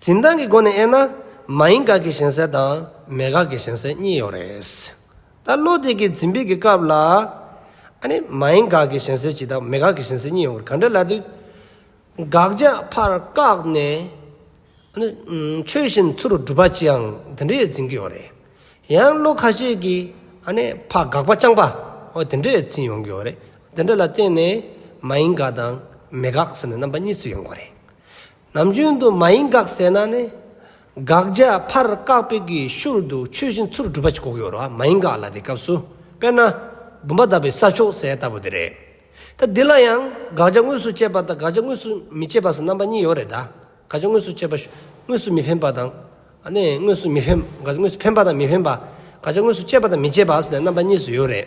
འཛིན་སྟངས་ཀྱི་སྒོ་ནས་དབྱེ་ན། མ་ཡིན་དགག་གི་ཞེན་སེལ་དང་མེད་དགག་གི་ཞེན་སེལ་གཉིས་ཡོད་རེད། ད་བློ་དེ་གའི་འཛིན་སྤེལ་གྱི་སྐབས་ལ། ཨ་ནི་མ་ཡིན་དགག་གི་ཞེན་སེལ་གྱིས་དང་མེད་དགག་གི་ཞེན་སེལ་གཉིས་ཡོང་བར་ག་འདྲ་ལ་དུས། དགག་བྱ་ཕར་བཀག་ནས། ཨ་ནི། ཆོས་བཞིན་ཚུར་སྒྲུབ་པ་ཅིའང་དེ་འདྲའི་འཛིན་གྱི་ཡོད་རེད། ཡང་བློ་ཁ་ཤས་ཀྱིས་ཨ་ནི་ཕ་དགག་པ་རྐྱང་པ་འོ་དེ་འདྲའི་འཛིན་ཡོང་གི་ཡོད་རེད། དེ་འདྲ་ལ་བརྟེན་ནས་མ་ཡིན་དགག་དང་མེད་དགག་ཟེར་ནས་རྣམ་པ་གཉིས་སུ་ཡོང་གི་རེད། ནམ་རྒྱུན་དུ་མ་ཡིན་དགག་བསལ་ན་ནི། དགག་བྱ་ཕར་བཀག་པའི་གི་ཤུར་དུ་ཆོས་བཞིན་ཚུར་སྒྲུབ་པ་ཅིག་ལྐོག་གཡོ་ར་མ་ཡིན་དགག་ལ་དེ་སྐབས་སུ། དཔེར་ན། བུམ་པ་གདབ་པའི་ས་ཕྱོགས་གསལ་ལྟ་བུ་དེ་རེད། ད་འདི་ལ་ཡང་དགག་བྱ་དངོས་སུ་བཅད་པ་དང་དགག་བྱ་དངོས་སུ་མི་བཅད་པ་སོགས་རྣམ་པ་གཉིས་ཡོད་རེད་ད། དགག་བྱ་དངོས་སུ་བཅད་པ། དངོས་སུ་མི་འཕེན་པ་དང། དངོས་སུ་མི་འཕེན། དགག་བྱ་དངོས་སུ་འཕེན་པ་དང་མི་འཕེན་པ། དགག་བྱ་དངོས་སུ་བཅད་པ་དང་མི་བཅད་པ་སོགས་ནས་རྣམ་པ་གཉིས་སུ་ཡོད་རེད།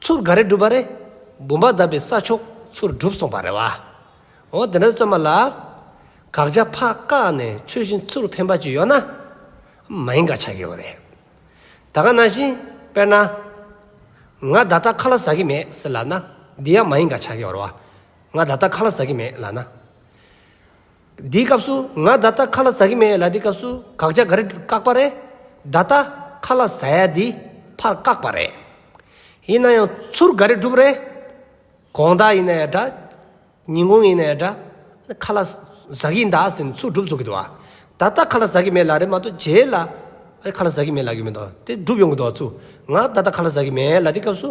ཚུར་ག་རེ་བསྒྲུབས་པ་རེད། བུམ་པ་བརྡབས་པའི་ས་ཕྱོགས་ཚུར་བསྒྲུབས་སོང་བ་རེད་བ། འོ་དེ་འདྲ་བཙོན་མ་ལགས། དགག་བྱ་ཕག་བཀག་ནས་ཚུལ་བཞིན་ཚུར་འཕེན་པ་ཅིག་ཡོད་ན། མ་ཡིན་ག་ཆགས་ཀྱི་ཡོད་རེད། ད་ག་ནང་བཞིན་དཔེར་ན། ང་ད་ལྟ་ཁ་ལ་ཟ་གི་མེད་ཟེར་ལགས་ན་འདི་ཡང་མ་ཡིན་ག་ཆགས་ཀྱི་ཡོད་རེད་བ། ང་ད་ལྟ་ཁ་ལ་ཟ་གི་མེད་ལགས་ན། འདིའི་སྐབས་སུ་ང་བརྡ་རྟགས་ཁ་ལ་ཟ་གི་མེད་ལ་དེའི་སྐབས་སུ་དགག་བྱ་ག་རེ་བཀག་པ་རེད། བརྡ་རྟགས་ཁ་ལ་ཟ་ཡ་འདི་ཕར་བཀག་པ་རེད། ཡིན་ན་ཡང་ཚུར་ག་རེ་སྒྲུབ་རེད། གོང་བརྡ་ཡིན་ན་ཡང་འདྲ། ཉིན་གུང་ཡིན་ན་ཡང་འདྲ། ཁ་ལ་ཟ་གིན་གདའ་ཟེར་ནས་ཚུར་སྒྲུབ་ཚོགས་ཀྱི་འདུག་བ། བརྡ་རྟགས་ཁ་ལ་ཟ་གི་མེད་ལ་རེད་མ་གཏོགས་རྗེས་ལ་ཁ་ལ་ཟ་གི་མེད་ལ་གི་མེད་འདུག་དེ་སྒྲུབ་ཡོང་གི་འདུག་བ་ཚུར་ང་བརྡ་རྟགས་ཁ་ལ་ཟ་གི་མེད་ལ་དེའི་སྐབས་སུ།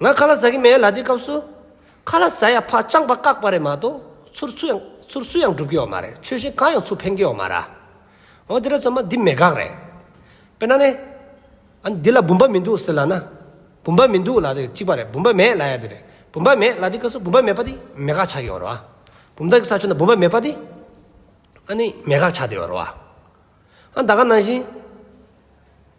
ང་ཁ་ལ་ཟ་གི་མེད་ལ་དེའི་སྐབས་སུ། ཁ་ལ་ཟ་ཡ་ཕ་སྤྱང་པ་བཀག་པ་རེད་མ་གཏོགས་ཚུར་སུ་ཡང་ཚུར་སུ་ཡང་སྒྲུབ་ཀྱི་ཡོད་མ་རེད་ཆོལ་ཞེན་གང་ཡང་ཚུར་འཕེན་གྱི་ཡོད་མ་ར། འོ་དེ་ར་ཚོད་མ་འདི་མེད་དགག་རེད། དཔེར་ན་ནི། ཨ་འདི་ལ་བུམ་པ་མི་འདུག་ཟེར་ལ་ན། བུམ་པ་མི་འདུག་ལ་དེ་གཅིག་པ་རེད་བུམ་པ་མེད་ལ་ཡ་དེ་རེད་བུམ་པ་མེད་ལ་དེའི་སྐབས་སུ་བུམ་པ་མེད་པ་དེ་མེད་དགག་བྱ་གི་ཡོད་ར། བུམ་བདག་གི་ས་ཆོད་ན་བུམ་པ་མེད་པ་དེ། ཨ་ནི་མེད་དགག་བྱ་དེ་ཡོད་ར། ཨ་ད་ག་ནང་བཞིན།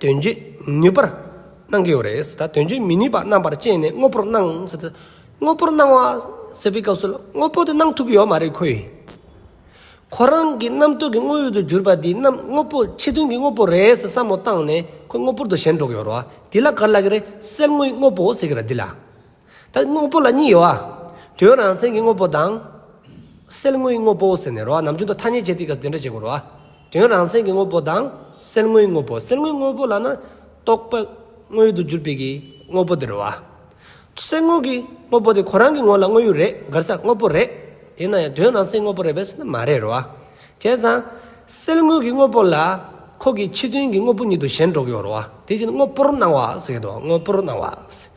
དོན་བྱེད་ནུས་པར་སྣང་གི་ཡོད་རེད། ད་དོན་བྱེད་མི་ནུས་པ་རྣམ་པར་དཔྱད་ནས་དངོས་པོར་སྣང། དངོས་པོར་སྣང་བ་ཟེར་བའི་སྐབས་སུ་དངོས་པོ་དེ་སྣང་ཐུབ་ཀྱི་ཡོད་མ་རེད་ཁོ་ཡིས། ཁོ་རང་གི་རྣམ་རྟོག་གི་དངོས་ཡོད་དུ་གྱུར་པ་དེ་རྣམ་དངོས་པོ་ཕྱི་དོན་གྱི་དངོས་པོ་རེད་ཟེར་བསམ་བློ་བཏང་ནས་ཁོ་དངོས་པོར་དུ་ཞེན་འགྲོ་གི་ཡོད་རེད། དེ་ལ་ག་ལ་དགོས་རེད་གསེར་དངུལ་དངོས་པོ་ཟེར་གི་རེད་དེ་ལ། ད་དངོས་པོ་ལ་གཉིས་ཡོད་ཨ། དོན་རང་མཚན་གྱི་དངོས་པོ་དང། སེལ་དངོས་དངོས་པོ་ཟེར་ནས་རོ་ཨ་ནམ་རྒྱུན་དུ་ཐ་སྙད་སྤྱད་དེ་ག་དེ་འདྲ་བྱེད་དགོས་རོ་ཨ། དོན་རང་མཚན་གྱི་དངོས་པོ་དང། སེལ་དངོས་དངོས་པོ་སེལ་དངོས་དངོས་པོ་ལ་ན། རྟོག་པ། དངོས་དུ་གྱུར་པའི་གྱི། དངོས་པོ་དེ་རོ་ཨ། སེལ་དངོས་ཀྱི། དངོས་པོ་དེ་ཁོ་རང་གི་ངོ་ལ་དངོས་ཡོད་རེད་དགར་ས་དངོས་པོ་རེད། ཡིན་ན་ཡང་དོན་རང་མཚན་དངོས་པོ་རེད་བས་སུ་ན་མ་རེད་རོ་ཨ། བྱས་ཙང། སེལ་དངོས་ཀྱི་དངོས་པོ་ལ། ཁོ་གི་ཕྱི་དོན་གྱི་དངོས་པོ་ཉིད་དུ་གཞན་འགྲོ་གི་ཡོད་རོ་ཨ་དེ་བཞིན་དངོས་པོར་སྣང་བ་ཟེར་གི་འདུག་དངོས་པོར་སྣང་བ།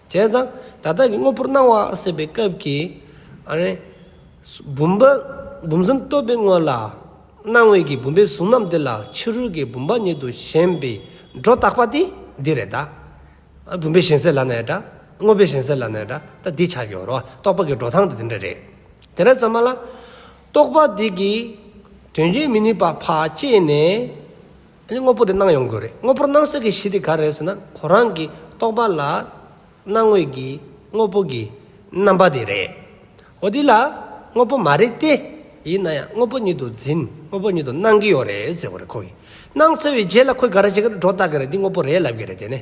བྱས་ཙང་ད་ལྟ་གི་དངོས་པོར་སྣང་བ་སྲིད་པའི་སྐབས་ཀྱི། བུམ་པ་བུམ་གསུམ་སྟོབས་པའི་དངོས་ལ། སྣང་བའི་གི་བུམ་པའི་གཟུགས་རྣམས་དེ་ལ་ཕྱི་རོལ་གྱི་བུམ་པ་ཉིད་དུ་ཞེན་པའི་སྒྲོ་བཏགས་པ་དེ་འདི་རེད་ད། བུམ་པའི་ཞེན་སེལ་ལ་ནས་ད། དངོས་པོའི་ཞེན་སེལ་ལ་ནས་ད་ལྟ་འདི་ཆགས་ཀྱི་རོ། རྟོག་པ་གི་སྒྲོ་ཐང་དེ་འདི་འདྲ་རེད། དེ་འདྲ་ཙམ་མ་ལ། རྟོག་པ་དེ་གིས་དོན་བྱེད་མི་ནུས་པ་བག་བསྐྱེད་ནས། དེ་ནི་དངོས་པོ་དེ་སྣང་ཡོང་དགོས་རེད། དངོས་པོར་སྣང་སྲིད་ཀྱི་གཞི་དེ་ག་རེད་ཟེར་ན་གོ་རང་གི་རྟོག་པ་ལ་སྣང་ངོས་ཀྱི་དངོས་པོ་གྱི་རྣམ་པ་དེ་རེད། འོ་དེ་ལ་དངོས་པོ་མ་རེད་དེ། ཡིན་ན་ཡང་དངོས་པོ་ཉིད་དུ་འཛིན་དངོས་པོ་ཉིད་དུ་སྣང་གི་ཡོད་རེད་ཟེར་བ་རེད་ཁོ་གིས། སྣང་ཟེར་བའི་རྗེས་ལ་ཁོས་ག་རེ་བྱེད་ཀྱི་རེད་སྒྲོ་བཏགས་ཀྱི་རེད་འདི་དངོས་པོ་རེད་ལབ་ཀྱི་རེད་དེ་ནས།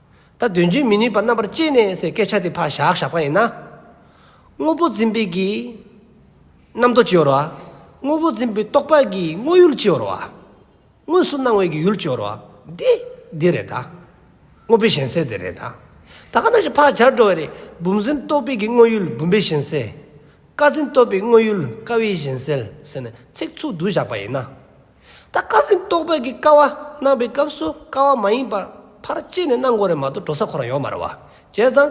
ད་དོན་བརྗོད་མི་ནུས་པ་རྣམ་པར་དཔྱད་ནས་སའི་སྐད་ཆ་དེ་ཕ་ཞག་ཞག་པ་ཡིན་ན། དངོས་པོ་འཛིན་པའི་གིས་རྣམ་རྟོག་ཅི་ཡོར་བ། དངོས་པོ་འཛིན་པའི་རྟོག་པ་གིས་དངོས་ཡུལ་ཅི་ཡོར་བ། དངོས་སུ་སྣང་བའི་གིས་ཡུལ་ཅི་ཡོར་བ། འདི། འདི་རེད་ད། དངོས་པོའི་ཞེན་སེལ་དེ་རེད་ད། ད་ག་ནང་བཞིན་ཕ་ཞག་འགྲོ་བ་རེད་བུམ་འཛིན་རྟོག་པའི་གིས་དངོས་ཡུལ་བུམ་པའི་ཞེན་སེལ། ཀ་འཛིན་རྟོག་པའི་དངོས་ཡུལ་ཀ་བའི་ཞེན་སེལ་ཟེར་ནས་ཚིག་ཚུགས་བསྡུ་བཞག་པ་ཡིན་ན། ད་བཀའ་སེང་རྟོགས་པའི་གི་ཀ་བ་གནང་པའི་སྐབས་སུ་ཀ་བ་མ་ཡིན་པར་ཕར་བཅད་ནས་གནང་དགོས་རེད་མ་གཏོགས་འགྲོ་ས་ཁོ་རང་ཡོང་མ་རེད་བ། བྱས་ཙང།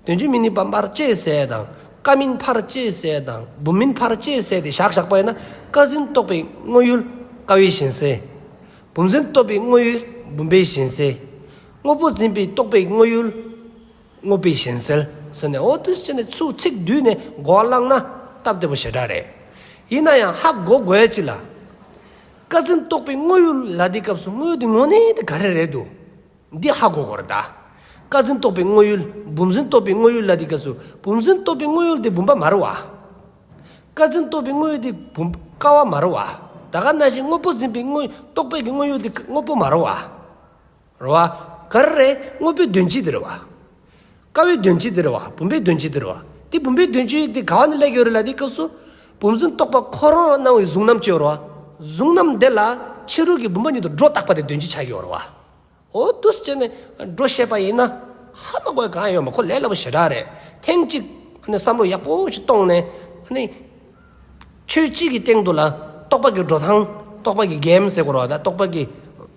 དོན་ཆུང་མིན་ནི་པར་བཅད་ཟེར་དང་ཀ་མིན་ཕར་བཅད་ཟེར་དང་འབུམ་མིན་ཕར་བཅད་ཟེར་དེ་བཞག་བཞག་པ་ཡིན་ན་བཀའ་སེང་རྟོགས་པའི་དངོས་ཡུལ་བཀའ་བའི་ཞེན་སེལ། བུམ་སེང་རྟོགས་པའི་དངོས་ཡུལ་བུམ་པའི་ཞེན་སེལ། དངོས་པོ་འཛིན་པའི་རྟོགས་པའི་དངོས་ཡུལ། དངོས་པོའི་གཞན་སེལ་ཟེར་ནས་འོ་དུས་ཅི་ནས་ཚུགས་ཚིག་བསྡུས་ནས་མགོ་བསླངས་ན་སྟབས་བདེ་པོ་ཞེ་དྲག་རེད། ཡིན་ན་ཡང་ཧ་གོ་དགོས་ཅི་ལ། བཀའ་བཙན་རྟོགས་པའི་དངོས་ཡོད་ལ་དེའི་སྐབས་སུ་དངོས་ཡོད་དེ་དངོས་གནས་དེ་ག་རེ་རེད་འདུག་འདི་ཧ་གོ་དགོས་རེད་ད། བཀའ་བཙན་རྟོགས་པའི་དངོས་ཡོད་བུམ་བཟོན་རྟོགས་པའི་དངོས་ཡོད་ལ་དེའི་སྐབས་སུ་བུམ་བཟོན་རྟོགས་པའི་དངོས་ཡོད་དེ་བུམ་པ་མ་རེད་བ། བཀའ་བཙན་རྟོགས་པའི་དངོས་ཡོད་དེ་བུམ་ཀ་བ་མ་རེད་བ། ད་ག་ན་བཞིན་དངོས་པོ་འཛིན་པའི་དངོས་རྟོགས་པའི་དངོས་ཡོད་དེ་དངོས་པོ་མ་རེད་བ། ར་བ། ཀ་ར་རེ། དངོས་པོའི་དོན་སྤྱི་དེར་བ། དཀའ་བའི་དོན་སྤྱི་དེར་བ། བུམ་པའི་དོན་སྤྱི་དེར་བ། དེ་བུམ་པའི་དོན་སྤྱི་ཡིག་དེ་ག་བ་ནས་ལས་ཀྱི་རོལ་ལ་དེའི་སྐབས་སུ། བུམ་བཟུང་རྟོག་པ་ཁོ་རང་ལ་སྣང་བའི་གཟུང་རྣམ་སྤྱིའོ་ར་བ། གཟུང་རྣམ་དེ་ལ་ཕྱི་རོལ་གྱི་བུམ་པ་ཉིད་དུ་སྒྲོ་བཏགས་པ་དེ་དོན་སྤྱི་ཆགས་ཀྱིའོ་ར་བ། འོ་དུ་ཟེར་ནས་སྒྲོ་བཤད་པ་ཡིན་ན། ཧ་མ་གོ་གང་ཡོད་མ་ཁོ་ལས་སླ་པོ་ཞེ་དྲག་རེད། ཐེངས་གཅིག་བསམ་བློ་ཡག་པོ་ཞིག་གཏོང་ནས། ཆོས་སྤྱི་གི་སྟེང་དུ་ལ་རྟོག་པ་གྱི་སྒྲོ་དང། རྟོག་པ་གྱི་རྒྱན་ཟེར་དགོས་ར་བ་ད་རྟོག་པ་གྱི།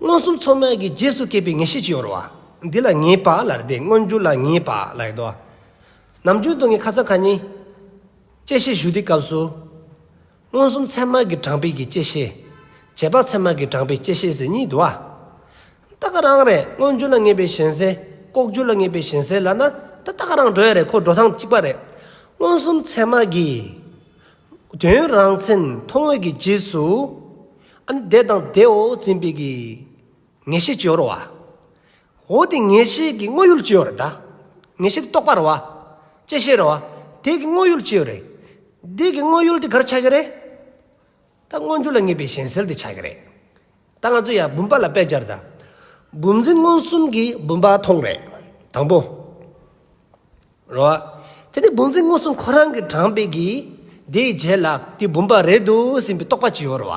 མངོན་སུམ་མཚོ་སྨད་ཀྱི་རྗེས་སུ་སྐྱེས་པའི་ངེས་ཤེས་ཀྱི་ཡོར་བ། འདི་ལ་ངེས་པ་ལར་འདས་མངོན་འགྱུར་ལ་ངེས་པ་ལ་ཡོད་དོ། ནམ་རྒྱུན་དུ་ངས་ཁ་ཚ་ཁ་ཉིན། དཔྱད་གཞི་ཞུ་དུས་སྐབས་སུ། མངོན་སུམ་ཚད་མ་གི་གྲངས་འཕེལ་གྱི་དཔྱད་གཞི། རྗེས་དཔག་ཚད་མ་གི་གྲངས་འཕེལ་དཔྱད་གཞི་ཟེར་གཉིས་འདུ་བ། ད་ག་རང་རེད་མངོན་འགྱུར་ལ་ངེས་པའི་ཞེན་སེལ་ལྐོག་གྱུར་ལ་ངེས་པའི་ཞེན་སེལ་ལ་ན་ད་ད་ག་རང་འགྲོ་ཡ་རེད་ཁོ་འགྲོ་ཐང་གཅིག་པ་རེད། མངོན་སུམ་ཚད་མ་གི། དོན་རང་མཚན་མཐོང་བས་ཀྱི་རྗེས་སུ་བདེ་དང་བདེའོ་འཛིན་པས་ཀྱི་ངེས་ཤེས་སྤྱོར་བ། འོ་དེ་ངེས་ཤེས་ཀྱི་དངོས་ཡུལ་སྤྱོར་བདག། ངེས་ཤེས་རྟོགས་པར་བ། དཔྱད་ཤེས་ར་བ། དེ་ཀྱི་དངོས་ཡུལ་སྤྱོར་རེ། འདི་ཀྱི་དངོས་ཡུལ་དེ་གར་ཆགས་ཀྱི་རེད། ད་མངོན་འགྱུར་ལ་ངེས་པའི་གཞན་སེལ་དེ་ཆགས་ཀྱི་རེད། ད་ང་ཚོ་ཡང་བུམ་པ་ལ་དཔེ་སྦྱར་ད། བུམ་འཛིན་མངོན་སུམ་གྱི་བུམ་པ་མཐོང་རེད། དང་པོ། རོ། དེ་ནི་བུམ་ཚིག་མངོན་སུམ་ཁོ་རང་གི་དྲངས་པའི་གིས། དེའི་རྗེས་ལ་དེ་བུམ་པ་རེད་འདུག་ཟིན་པའི་རྟོག་པ་ཅི་ཡོད་རོ།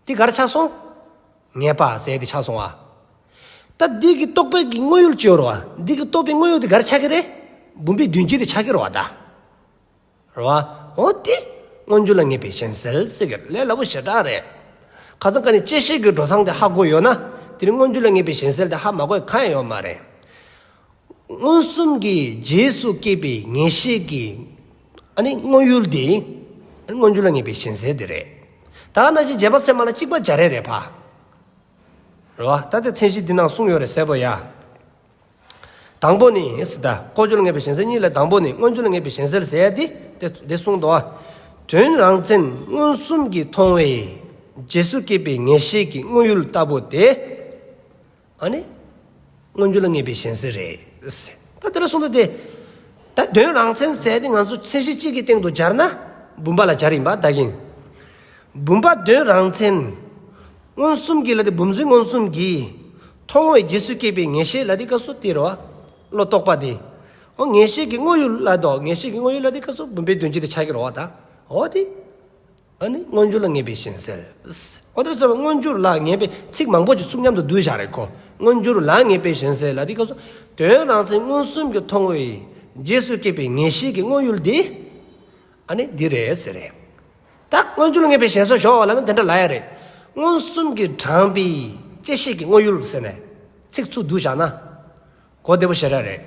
དེ་གར་ཆགས་སོང། ངེས་པ་ཟད་དེ་ཆགས་སོང་བ། ད་འདི་གི་རྟོག་པའི་གིས་དངོས་ཡོད་ཅི་ཡོད་རོ། འདི་གི་རྟོག་པའི་དངོས་ཡོད་དེ་གར་ཆགས་ཀྱི་རེད། བུམ་པའི་མདུན་བསྐྱེད་དེ་ཆགས་ཀྱི་རོ་བ་ད། རེད་བ། འོ་དེ། སྔོན་འགྱུར་ལ་ངེས་པའི་གཞན་སེལ་སེལ་གྱི་ལས་སླ་བོ་ཞེ་དྲག་རེད། ཁ་ཚང་ཁ་ནས་དཔྱད་ཤེས་ཀྱི་འགྲོ་སྟངས་དེ་ཧ་གོ་ཡོད་ན། དེ་རིང་སྔོན་འགྱུར་ལ་ངེས་པའི་གཞན་སེལ་དེ་ཧ་མ་གོ་ཡི་ཁ་ཡང་ཡོད་མ་རེད། མངོན་སུམ་གྱི་རྗེས་སུ་སྐྱེས་པའི་ངེས་ཤེས་ཀྱི། ཨ་ནི་དངོས་ཡུལ་དེ། སྔོན་འགྱུར་ལ་ངེས་པའི་གཞན་སེལ་དེ་རེད། ད་ག་ན་གཞི་བརྒྱད་པ་ཚད་མ་ལ་གཅིག་པ་བརྒྱ་རེ་རེད་བ། རེད་བ། ད་དེ་མཚན་གཞི་འདི་ནང་གསུངས་ཡོད་རེད་གསལ་པོ་ཡ། དང་པོ་ནི། ལྐོག་གྱུར་ངེས་པའི་ཞེན་སེལ་གཉིས་ལས་དང་པོ་ནི་མངོན་གྱུར་ངེས་པའི་ཞེན་སེལ་ཟད་དེ། དེ་གསུངས་ཏོ། དོན་རང་མཚན་མངོན་སུམ་གྱིས་མཐོང་བས། རྗེས་སུ་སྐྱེས་པའི་ངེས་ཤེས་ཀྱི་དངོས་ཡུལ་ལྟ་བུ་དེ། ཨ་ནི། མངོན་གྱུར་ངེས་པའི་ཞེན་སེལ་རེད། ད་དེ་ལ་གསུངས་ཏོ། ད་དོན་རང་མཚན་ཟད་དེ་ང་ཚོ་མཚན་གཞི་གཅིག་གི་སྟེང་དུ་སྦྱར་ན། བུམ་པ་ལ་སྦྱར་ཡིན་པ་བདག་ཡིན། བུམ་པ་དོན་རང་མཚན། མངོན་སུམ་གྱིས་ལ་དེ་བུམ་འཛིན་མངོན་སུམ་གྱིས། མཐོང་བའི་རྗེས་སུ་སྐྱེས་པའི་ངེས་ཤེས་ལ་དེ་སྐབས་སུ་སྟེར་བ། བློ་རྟོག་པ་དེ། ཧོ་ངེས་ཤེས་ཀྱི་དངོས་ཡུལ་ལ་དོ་ངེས་ཤེས་ཀྱི་དངོས་ཡུལ་ལ་དེ་སྐབས་སུ་བུམ་པའི་དོན་སྤྱི་དེ་ཕྱག་གིར་རོ་བ་དང་འོ་དེ། ཨ་ནི་མངོན་གྱུར་ལ་ངེས་པའི་ཞེན་སེལ། ཨོ་དེར་སོགས་པའི་མངོན་གྱུར་ལ་ངེས་པའི་ཚིག་མང་པོ་ཅིག་ཚུགས་མཉམ་དུ་བསྡུས་བཞག་རེ་གོ། མངོན་གྱུར་ལ་ངེས་པའི་ཞེན་སེལ་ལ་དེ་སྐབས་སུ། དོན་རང་མཚན་མངོན་སུམ་གྱི་མཐོང་བའི་རྗེས་སུ་སྐྱེས་པའི་ངེས་ཤེས་ཀྱི་དངོས་ཡུལ་དེ། ཨ་ནི་འདི་རེད་ཟེར། རེད་ད། སྔོན་ཚུལ་ངན་པའི་ཞེན་སོགས་ཞོག་ལ་ནི་དེ་འདྲ་ལ་ཡ་རེད། མངོན་སུམ་གྱི་དྲངས་པའི་དཔྱད་བཤད་ཀྱི་དངོས་ཡུལ་ཟེར་ནས་ཚིག་ཚུགས་བསྡུ་བཞག་ན། གོ་བདེ་པོ་ཞེ་དྲག་རེད།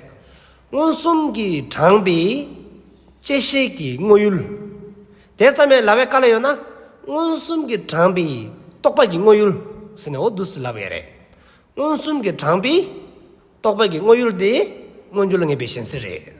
མངོན་སུམ་གྱི་དྲངས་པའི་དཔྱད་བཤད་ཀྱི་དངོས་ཡུལ། དེ་ཙམ་ཡང་ལ་བས་དཀའ་ལ་ཡོད་ན། མངོན་སུམ་གྱི་དྲངས་པའི་རྟོག་པ་གྱི་དངོས་ཡུལ་ཟེར་ནས་འོ་བསྡུ་སྲིད་ལབ་ཡ་རེད། མངོན་སུམ་གྱི་དྲངས་པའི་རྟོག་པ་གྱི་དངོས་ཡུལ་དེ་སྔོན་ཚུལ་ངན་པའི་ཞེན་སེལ་རེད།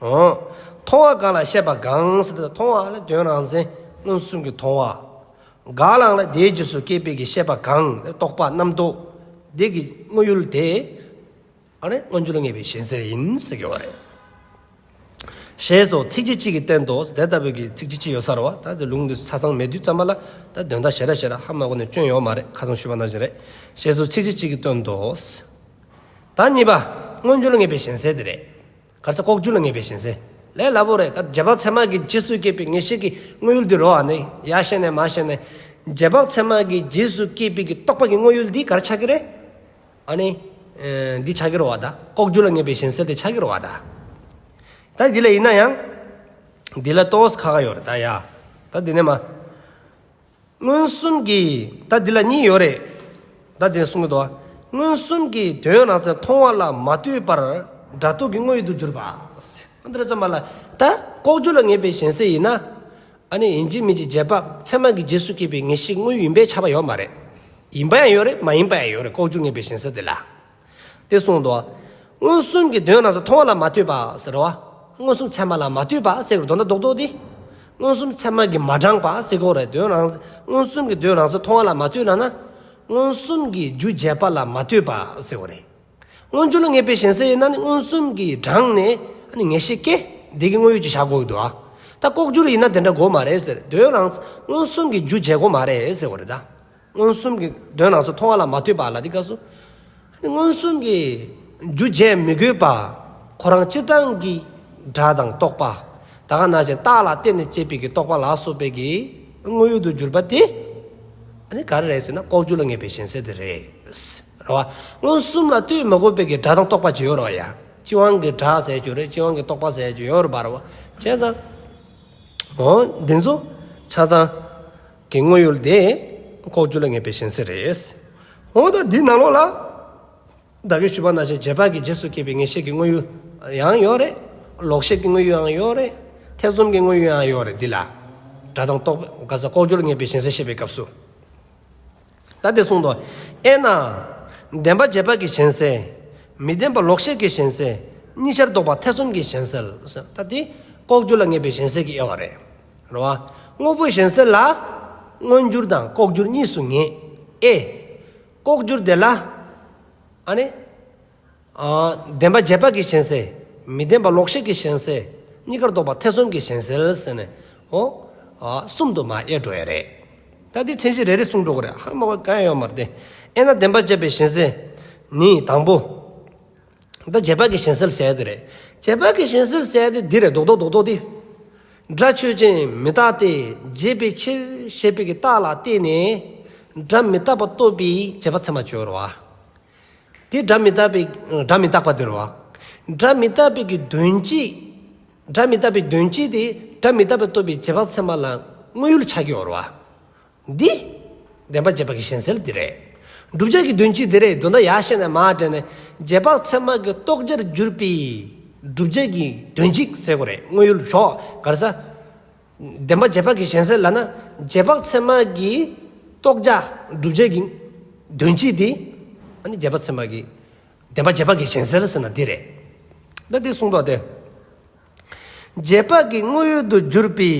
མཐོང་བ་གང་ལ་བཤད་པ་གང་ཟེར་ཏེ་མཐོང་བ་ལ་དོན་རང་མཚན་མངོན་སུམ་གྱི་མཐོང་བ། ག་ལ་ལ་དེའི་རྗེས་སུ་སྐྱེས་པའི་གི་བཤད་པ་གང་ཟེར་ཏེ་རྟོག་པ་རྣམ་རྟོག་དེ་གི་དངོས་ཡུལ་དེ། མངོན་འགྱུར་ལ་ངེས་པའི་ཞེན་ཟེར་ཡིན་ཟེར་གྱི་བ་རེད། ཞེས་སོགས་ཚིག་རྗེ་གཅིག་གིས་བསྟན་ཏོ། དེ་ལྟ་བུའི་གི་ཚིག་རྗེ་གཅིག་ཡོད་སར་བ་ད་དེ་ལུང་དུ་ས་ཚང་མས་དུས་བརྩམས་པ་ལ་ད་དོན་དག་ཞེ་ར་ཞེ་ར་ཧ་མ་གོ་ནས་སྐྱོན་ཡོད་མ་རེད་ཁ་ཚོན་ཞུས་པ་ནང་བཞིན་རེད། ཞེས་སོགས་ཚིག་རྗེ་གཅིག་གིས་སྟོན་ཏོ། དང་གཉིས་པ། མངོན་གྱུར་ངེས་པའི་ཞེན་སེལ་དེ་རེད། གར་ཚེ་ལྐོག་གྱུར་ལ་ངེས་པའི་ཞེན་སེལ་ལས་སླ་པོ་རེད་སྟབས་རྗེས་དཔག་ཚད་མ་གིས་རྗེས་སུ་སྐྱེས་པའི་ངེས་ཤེས་ཀྱི་དངོས་ཡུལ་འདི་རོ་ཨ་ནི་ཡ་ཤེས་ནས་མ་ཤེས་ནས། རྗེས་དཔག་ཚད་མ་གིས་རྗེས་སུ་སྐྱེས་པའི་གི་རྟོགས་པ་གི་དངོས་ཡུལ་འདི་གར་ཆགས་ཀྱི་རེད། ཨ་ནི། འདི་ཆགས་ཀྱི་རོ་ཨ་ད། ལྐོག་གྱུར་ལ་ངེས་པའི་ཞེན་སེལ་དེ་ཆགས་ཀྱི་རོ་ཨ་ད། ད་འདི་ལ་ཡིན་ན་ཡང། འདི་ལ་རྟོགས་ཁག་ཡོད་རེད་ད་ཡ། ད་འདི་ནས་མ། མངོན་སུམ་གྱིས་ད་འདི་ལ་གཉིས་ཡོད་རེད་ད་དེ་གསུངས་ཀྱི་འདུག་མངོན་སུམ་གྱིས་དོན་ནང་ཚན་མཐོང་བ་ལ་མ་ལྟོས་པར་སྒྲ་རྟོག་གི་དངོས་ཡུལ་དུ་གྱུར་པ། འདིར་རྩོམ་པ་ལ་ད་ལྐོག་གྱུར་ལ་ངེས་པའི་གཞན་སེལ་ཡིན་ན། ཨ་ནི་ཡིན་གཅིག་མིན་གཅིག་རྗེས་དཔག་ཚད་མ་གི་རྗེས་སུ་སྐྱེས་པའི་ངེས་ཤེས་དངོས་ཡུལ་ཡིན་པའི་ཆ་བ་ཡོད་མ་རེད། ཡིན་པ་ཡང་ཡོད་རེད་མ་ཡིན་པ་ཡང་ཡོད་རེད་ལྐོག་གྱུར་ངེས་པའི་གཞན་སེལ་འདི་ལ། དེ་གསུངས་ཏོ། མངོན་སུམ་གྱི་དོན་རྣམས་སུ་མཐོང་བ་ལ་མ་ལྟོས་པ། ཟེར་རོ། མངོན་སུམ་ཚད་མ་ལ་མ་ལྟོས་པ་སེ་གོལ་དོ་ན་རྡོག་རྡོག་སྟེ། མངོན་སུམ་ཚད་མ་གྱིས་མ་དྲངས་པ་སེ་གོལ་རེ་དོན་རང་མངོན་སུམ་གྱི་དོན་རང་སུ་མཐོང་བ་ལ་མ་ལྟོས་ན་ན། མངོན་སུམ་གྱིས་རྒྱུ་བྱས་པ་ལ་མ་ལྟོས་པ་སེ་གོལ་རེ། མངོན་སྦྱོར་ལ་ངེས་པའི་ཞེན་སེ་ན་ནི་མངོན་སུམ་གྱིས་དྲངས་ནས་ནི་ངེས་ཤེས་སྐད་བདེ་གི་དངོས་ཡོད་ཀྱི་བྱ་གོལ་དུ་ཨ། ད་ལྐོག་གྱུར་ཡིན་ན་དེ་འདྲ་གོལ་མ་རེད་ཟེར་དོན་རང་མངོན་སུམ་གྱིས་རྒྱུ་བྱས་གོལ་མ་རེད་སེ་གོལ་རེ་ད། མངོན་སུམ་གྱི་དོན་ནང་སོ་མཐོང་བ་ལ་མ་ལྟོས་པ་ལ་དེ་སྐབས་སུ་མངོན་སུམ་གྱི་རྒྱུ་འབྱེད་མི་དགོས་པ། ཁོ་རང་སྤྱིར་བཏང་གི་སྒྲ་དང་རྟོག་པ་ད་ག་ན་བཞིན་རྟགས་ལ་བརྟེན་ནས་སྐྱེས་པའི་གི་རྟོག་པ་ལ་སོགས་པའི་གི་དངོས་ཡུལ་དུ་གྱུར་པ་དེ་ནི་ག་རེ་རེད་ཟེར་ན་ལྐོག་གྱུར་ལ་ངེས་པའི་ཞེན་སེལ་དེ་རེད། ར་བ། མངོན་སུམ་ལ་ལྟོས་མི་དགོས་པའི་གི་སྒྲ་དང་རྟོག་པ་ཇི་ཡོད་རོ་ཡ། སྤྱི་དབང་གི་སྒྲ་ཟེར་གྱི་རེད་སྤྱི་དབང་གི་རྟོག་པ་ཟེར་གྱི་ཡོད་ར་བ། བྱས་ཙང། འོ་འདི་ཚོ་ཆ་ཚང། གི་དངོས་ཡོད་དེ་ལྐོག་གྱུར་ལ་ངེས་པའི་ཞེན་སེལ་རེད། འོ་ད་འདིའི་ནང་ལོགས་ལ། བདག་གིས་ཞུས་པ་ནང་བཞིན་རྗེས་དཔག་གི་རྗེས་སུ་སྐྱེས་པའི་ངེས་ཤེས་ཀྱི་དངོས་ཡོད་ཡང་ཡོད་རེད། ལོག་ཤེས་ཀྱི་དངོས་ཡོད་ཡང་ཡོད་རེད། ཐེ་ཚོམ་གྱི་དངོས་ཡོད་ཡང་ཡོད་རེད་འདི་ལ། སྒྲ་གདངས་རྟོག་པའི་ལྐོག་གྱུར་ལ་ངེས་པའི་ཞེན་སེལ་བཤད་པའི་སྐབས་སུ། ད་པས་གསུངས་ཏོ། ཨེ་ན། བདེན་པ་རྗེས་དཔག་གིས་གཞན་སེལ། མི་བདེན་པ་ལོག་ཤེས་ཀྱིས་གཞན་སེལ། གཉིས་ཆར་ལྡོག་པ་ཐེ་ཚོམ་གྱིས་གཞན་སེལ། ད་དེ། ལྐོག་གྱུར་ལ་ངེས་པའི་གཞན་སེལ་གྱི་དབྱེ་བ་རེད། རེད་བ། དངོས་པོའི་གཞན་སེལ་ལ། མངོན་གྱུར་དང་ལྐོག་གྱུར་གཉིས་སུ་ངེས། ཨེ། ལྐོག་གྱུར་དེ་ལ། ཨ་ནི། བདེན་པ་རྗེས་དཔག་གི་གཞན་སེལ། མི་བདེན་པ་ལོག་ཤེས་ཀྱི་གཞན་སེལ། གཉིས་ཀར་རྟོག་པ་ཐེ་ཚོམ་གྱི་གཞན་སེལ་ཟེར་ནས་ཨོ། གསུམ་དུ་མ་དབྱེ་འགྲོ་ཡ་རེད། ད་ལྟའི་མཚན་གཞི་རེ་རེ་གསུངས་འགྲོ་གི་རེད་ཧ་མ་གོ་ག་ཡང་ཡོད་མ་རེད་དེ། དབྱེ་ན་བདེན་པ་བཅད་པའི་གཞན་སེལ། ནི། དང་པོ། ད་རྗེས་དཔག་གི་གཞན་སེལ་ཟེར་ཡ་དེ་རེད། རྗེས་དཔག་གི་གཞན་སེལ་ཟེར་ཡ་དེ་འདི་རེད་རྡོག་རྡོག་རྡོག་རྡོག་དེ། སྒྲ་ཆོས་ཅན་མི་རྟག་སྟེ་བརྗེད་པའི་ཕྱིར་ཞེས་པའི་གི་རྟགས་ལ་བརྟེན་ནས། སྒྲ་མི་རྟག་པ་རྟོགས་པའི་བརྗེད་པ་ཚད་མ་བཅོ་བར་བ། དེ་སྒྲ་མི་རྟག་པའི་སྒྲ་མི་རྟག་པ་དེར་བ། སྒྲ་མི་རྟག་པའི་གི་དོན་སྤྱི། སྒྲ་མི་རྟག་པའི་དོན་སྤྱི་དེ་སྒྲ་མི་རྟག་པའི་རྟོག་པའི་རྗེས་དཔག་ཚད་མ་ལ་དངོས་ཡུལ་ཕྱག་རྒྱའི་བར་བ། འདི། བདེན་པ་རྗེས་དཔག་གི་གཞན་སེལ་འདི་རེད། བསྒྲུབ་བྱ་གི་དོན་སྤྱི་དེ་རེད་དོན་དག་ཡག་ཤེས་ནས་མ་དྲན་ནས་རྗེས་དཔག་ཚད་མ་གི་རྟོག་བྱར་གྱུར་པའི་བསྒྲུབ་བྱ་གི་དོན་སྤྱི་ཟེར་གོ་རེད་དངོས་ཡུལ་ཞོག་གར་ས། བདེན་པ་རྗེས་དཔག་གི་གཞན་སེལ་ལ་ན་རྗེས་དཔག་ཚད་མ་གི་རྟོགས་བྱ་སྒྲུབ་བྱེད་ཀྱི་དོན་སྤྱི་དེ། ཨ་ནི་རྗེས་དཔག་ཚད་མ་གི་བདེན་པ་རྗེས་དཔག་གི་གཞན་སེལ་ཟེར་ན་འདི་རེད། ད་འདི་གསུངས་དོགས་ཏེ། རྗེས་དཔག་གི་དངོས་ཡོད་དུ་གྱུར་པའི་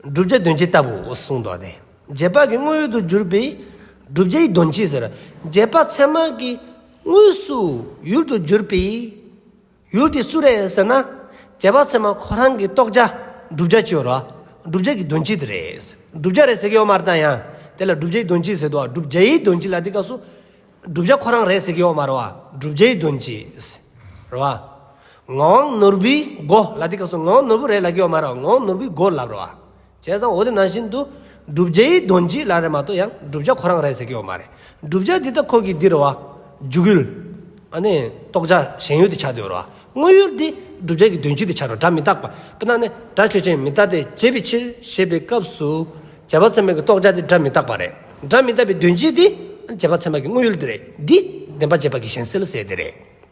བསྒྲུབ་བྱ་དོན་སྤྱི་ལྟ་བུ་གསུངས་དོགས་ཏེ། རྗེས་དཔག་གི་དངོས་ཡོད་དུ་གྱུར་པའི་བསྒྲུབ་བྱའི་དོན་སྤྱི་ཟེར། རྗེས་དཔག་ཚད་མ་གི་དངོས་སུ་ཡུལ་དུ་གྱུར་པའི། ཡུལ་དེ་སུ་རེད་ཟེར་ན། རྒྱལ་བ་ཚད་མ་ཁོ་རང་གིས་རྟོགས་བྱ་བསྒྲུབ་བྱ་ཅི་ཡོད་རོ། བསྒྲུབ་བྱ་གྱི་དོན་སྤྱི་དེ་རེད། བསྒྲུབ་བྱ་རེད་ཟེར་གྱི་ཡོད་མ་རེད་ད་ཡང་དེ་ལ་བསྒྲུབ་བྱའི་དོན་སྤྱི་ཟེར་དོ། བསྒྲུབ་བྱའི་དོན་སྤྱི་ལ་འདི་སྐབས་སུ། བསྒྲུབ་བྱ་ཁོ་རང་རེད་ཟེར་གྱི་ཡོད་མ་རེད་བ། བསྒྲུབ་བྱའི་དོན་སྤྱི། རེད་བ། ངག་དབང་ནོར་བུའི་མགོ་ལ་འདི་སྐབས་སུ་ངག་དབང་ནོར་བུ་རེད་ལབ་ཀྱི་ཡོད་མ་རེད་བ། ངག་དབང་ནོར་བུའི་མགོ་ལབ་རེད་བ། བྱས་ཙང་འོ་དེ་ནང་བཞིན་དུ། བསྒྲུབ་བྱ་ཡི་དོན་གྱིས་ལ་རེ་མ་གཏོགས་ཡང་བསྒྲུབ་བྱ་ཁོ་རང་རེད་ཟེར་གྱི་ཡོད་མ་རེད། བསྒྲུབ་བྱ་འདི་དག་ཁོ་གིས་འདིར་བ། འཇུག་ཡུལ། ཨ་ནི། རྟོགས་བྱ་གཞན་ཡུལ་དུ་བྱ་འདོད་རོ། དངོས་ཡུལ་འདི་བསྒྲུབ་བྱ་གི་དོན་གྱིས་དེ་བྱ་རུ་སྒྲ་མི་རྟག་པ། པི་ན་ནི། སྒྲ་ཆོས་ཅན་མི་རྟག་སྟེ་བྱེད་པའི་ཕྱིར་ཞེས་པའི་སྐབས་སུ། བྱེད་པ་ཚད་མ་གི་རྟོགས་བྱ་དེ་སྒྲ་མི་རྟག་པ་རེད། སྒྲ་མི་རྟག་པའི་དོན་གྱིས་དེ། བྱེད་པ་ཚད་མ་གི་དངོས་ཡུལ་དེ་རེད། འདིས། བདེན་པ་བྱེད་པ་གི་གཞན་སེལ་ཟེར་དེ་རེད།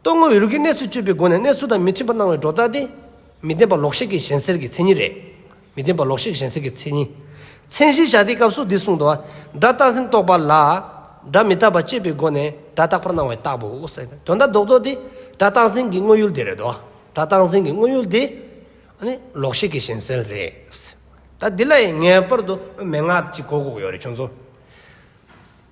ལྟོ་ངོ་བའི་རིགས་ཀྱི་གནས་སུ་སྤྱོད་པའི་སྒོ་ནས་གནས་ཚུལ་དང་མི་མཐུན་པར་སྣང་བའི་སྒྲོ་བཏགས་ཏེ། མི་བདེན་པ་ལོག་ཤེས་ཀྱི་གཞན་སེལ་གྱི་མཚན་ཉིད་རེད། མི་བདེན་པ་ལོག་ཤེས་ཀྱི་གཞན་སེལ་གྱི་མཚན་ཉིད། མཚན་གཞིའི་བྱ་བདེའི་སྐབས་སུ་འདི་གསུངས། སྒྲ་རྟག་འཛིན་རྟོག་པ་ལ། སྒྲ་མི་རྟག་པ་དཔྱད་པའི་སྒོ་ནས་སྒྲ་རྟག་པར་སྣང་བའི་རྟགས་བུ། དོན་དག་ལྡོག་རྟོག་དེ་སྒྲ་རྟག་འཛིན་གྱི་དངོས་ཡུལ་དེ་རེད། སྒྲ་རྟག་འཛིན་གྱི་དངོས་ཡུལ་དེ། ལོག་ཤེས་ཀྱི་གཞན་སེལ་རེད། ད་འདི་ལ་ཡང་ངེས་པར་དུ་མན་ངག་ཅིག་གོ་དགོས་ཀྱི་ཡོད་རེད་བྱུང་སོང།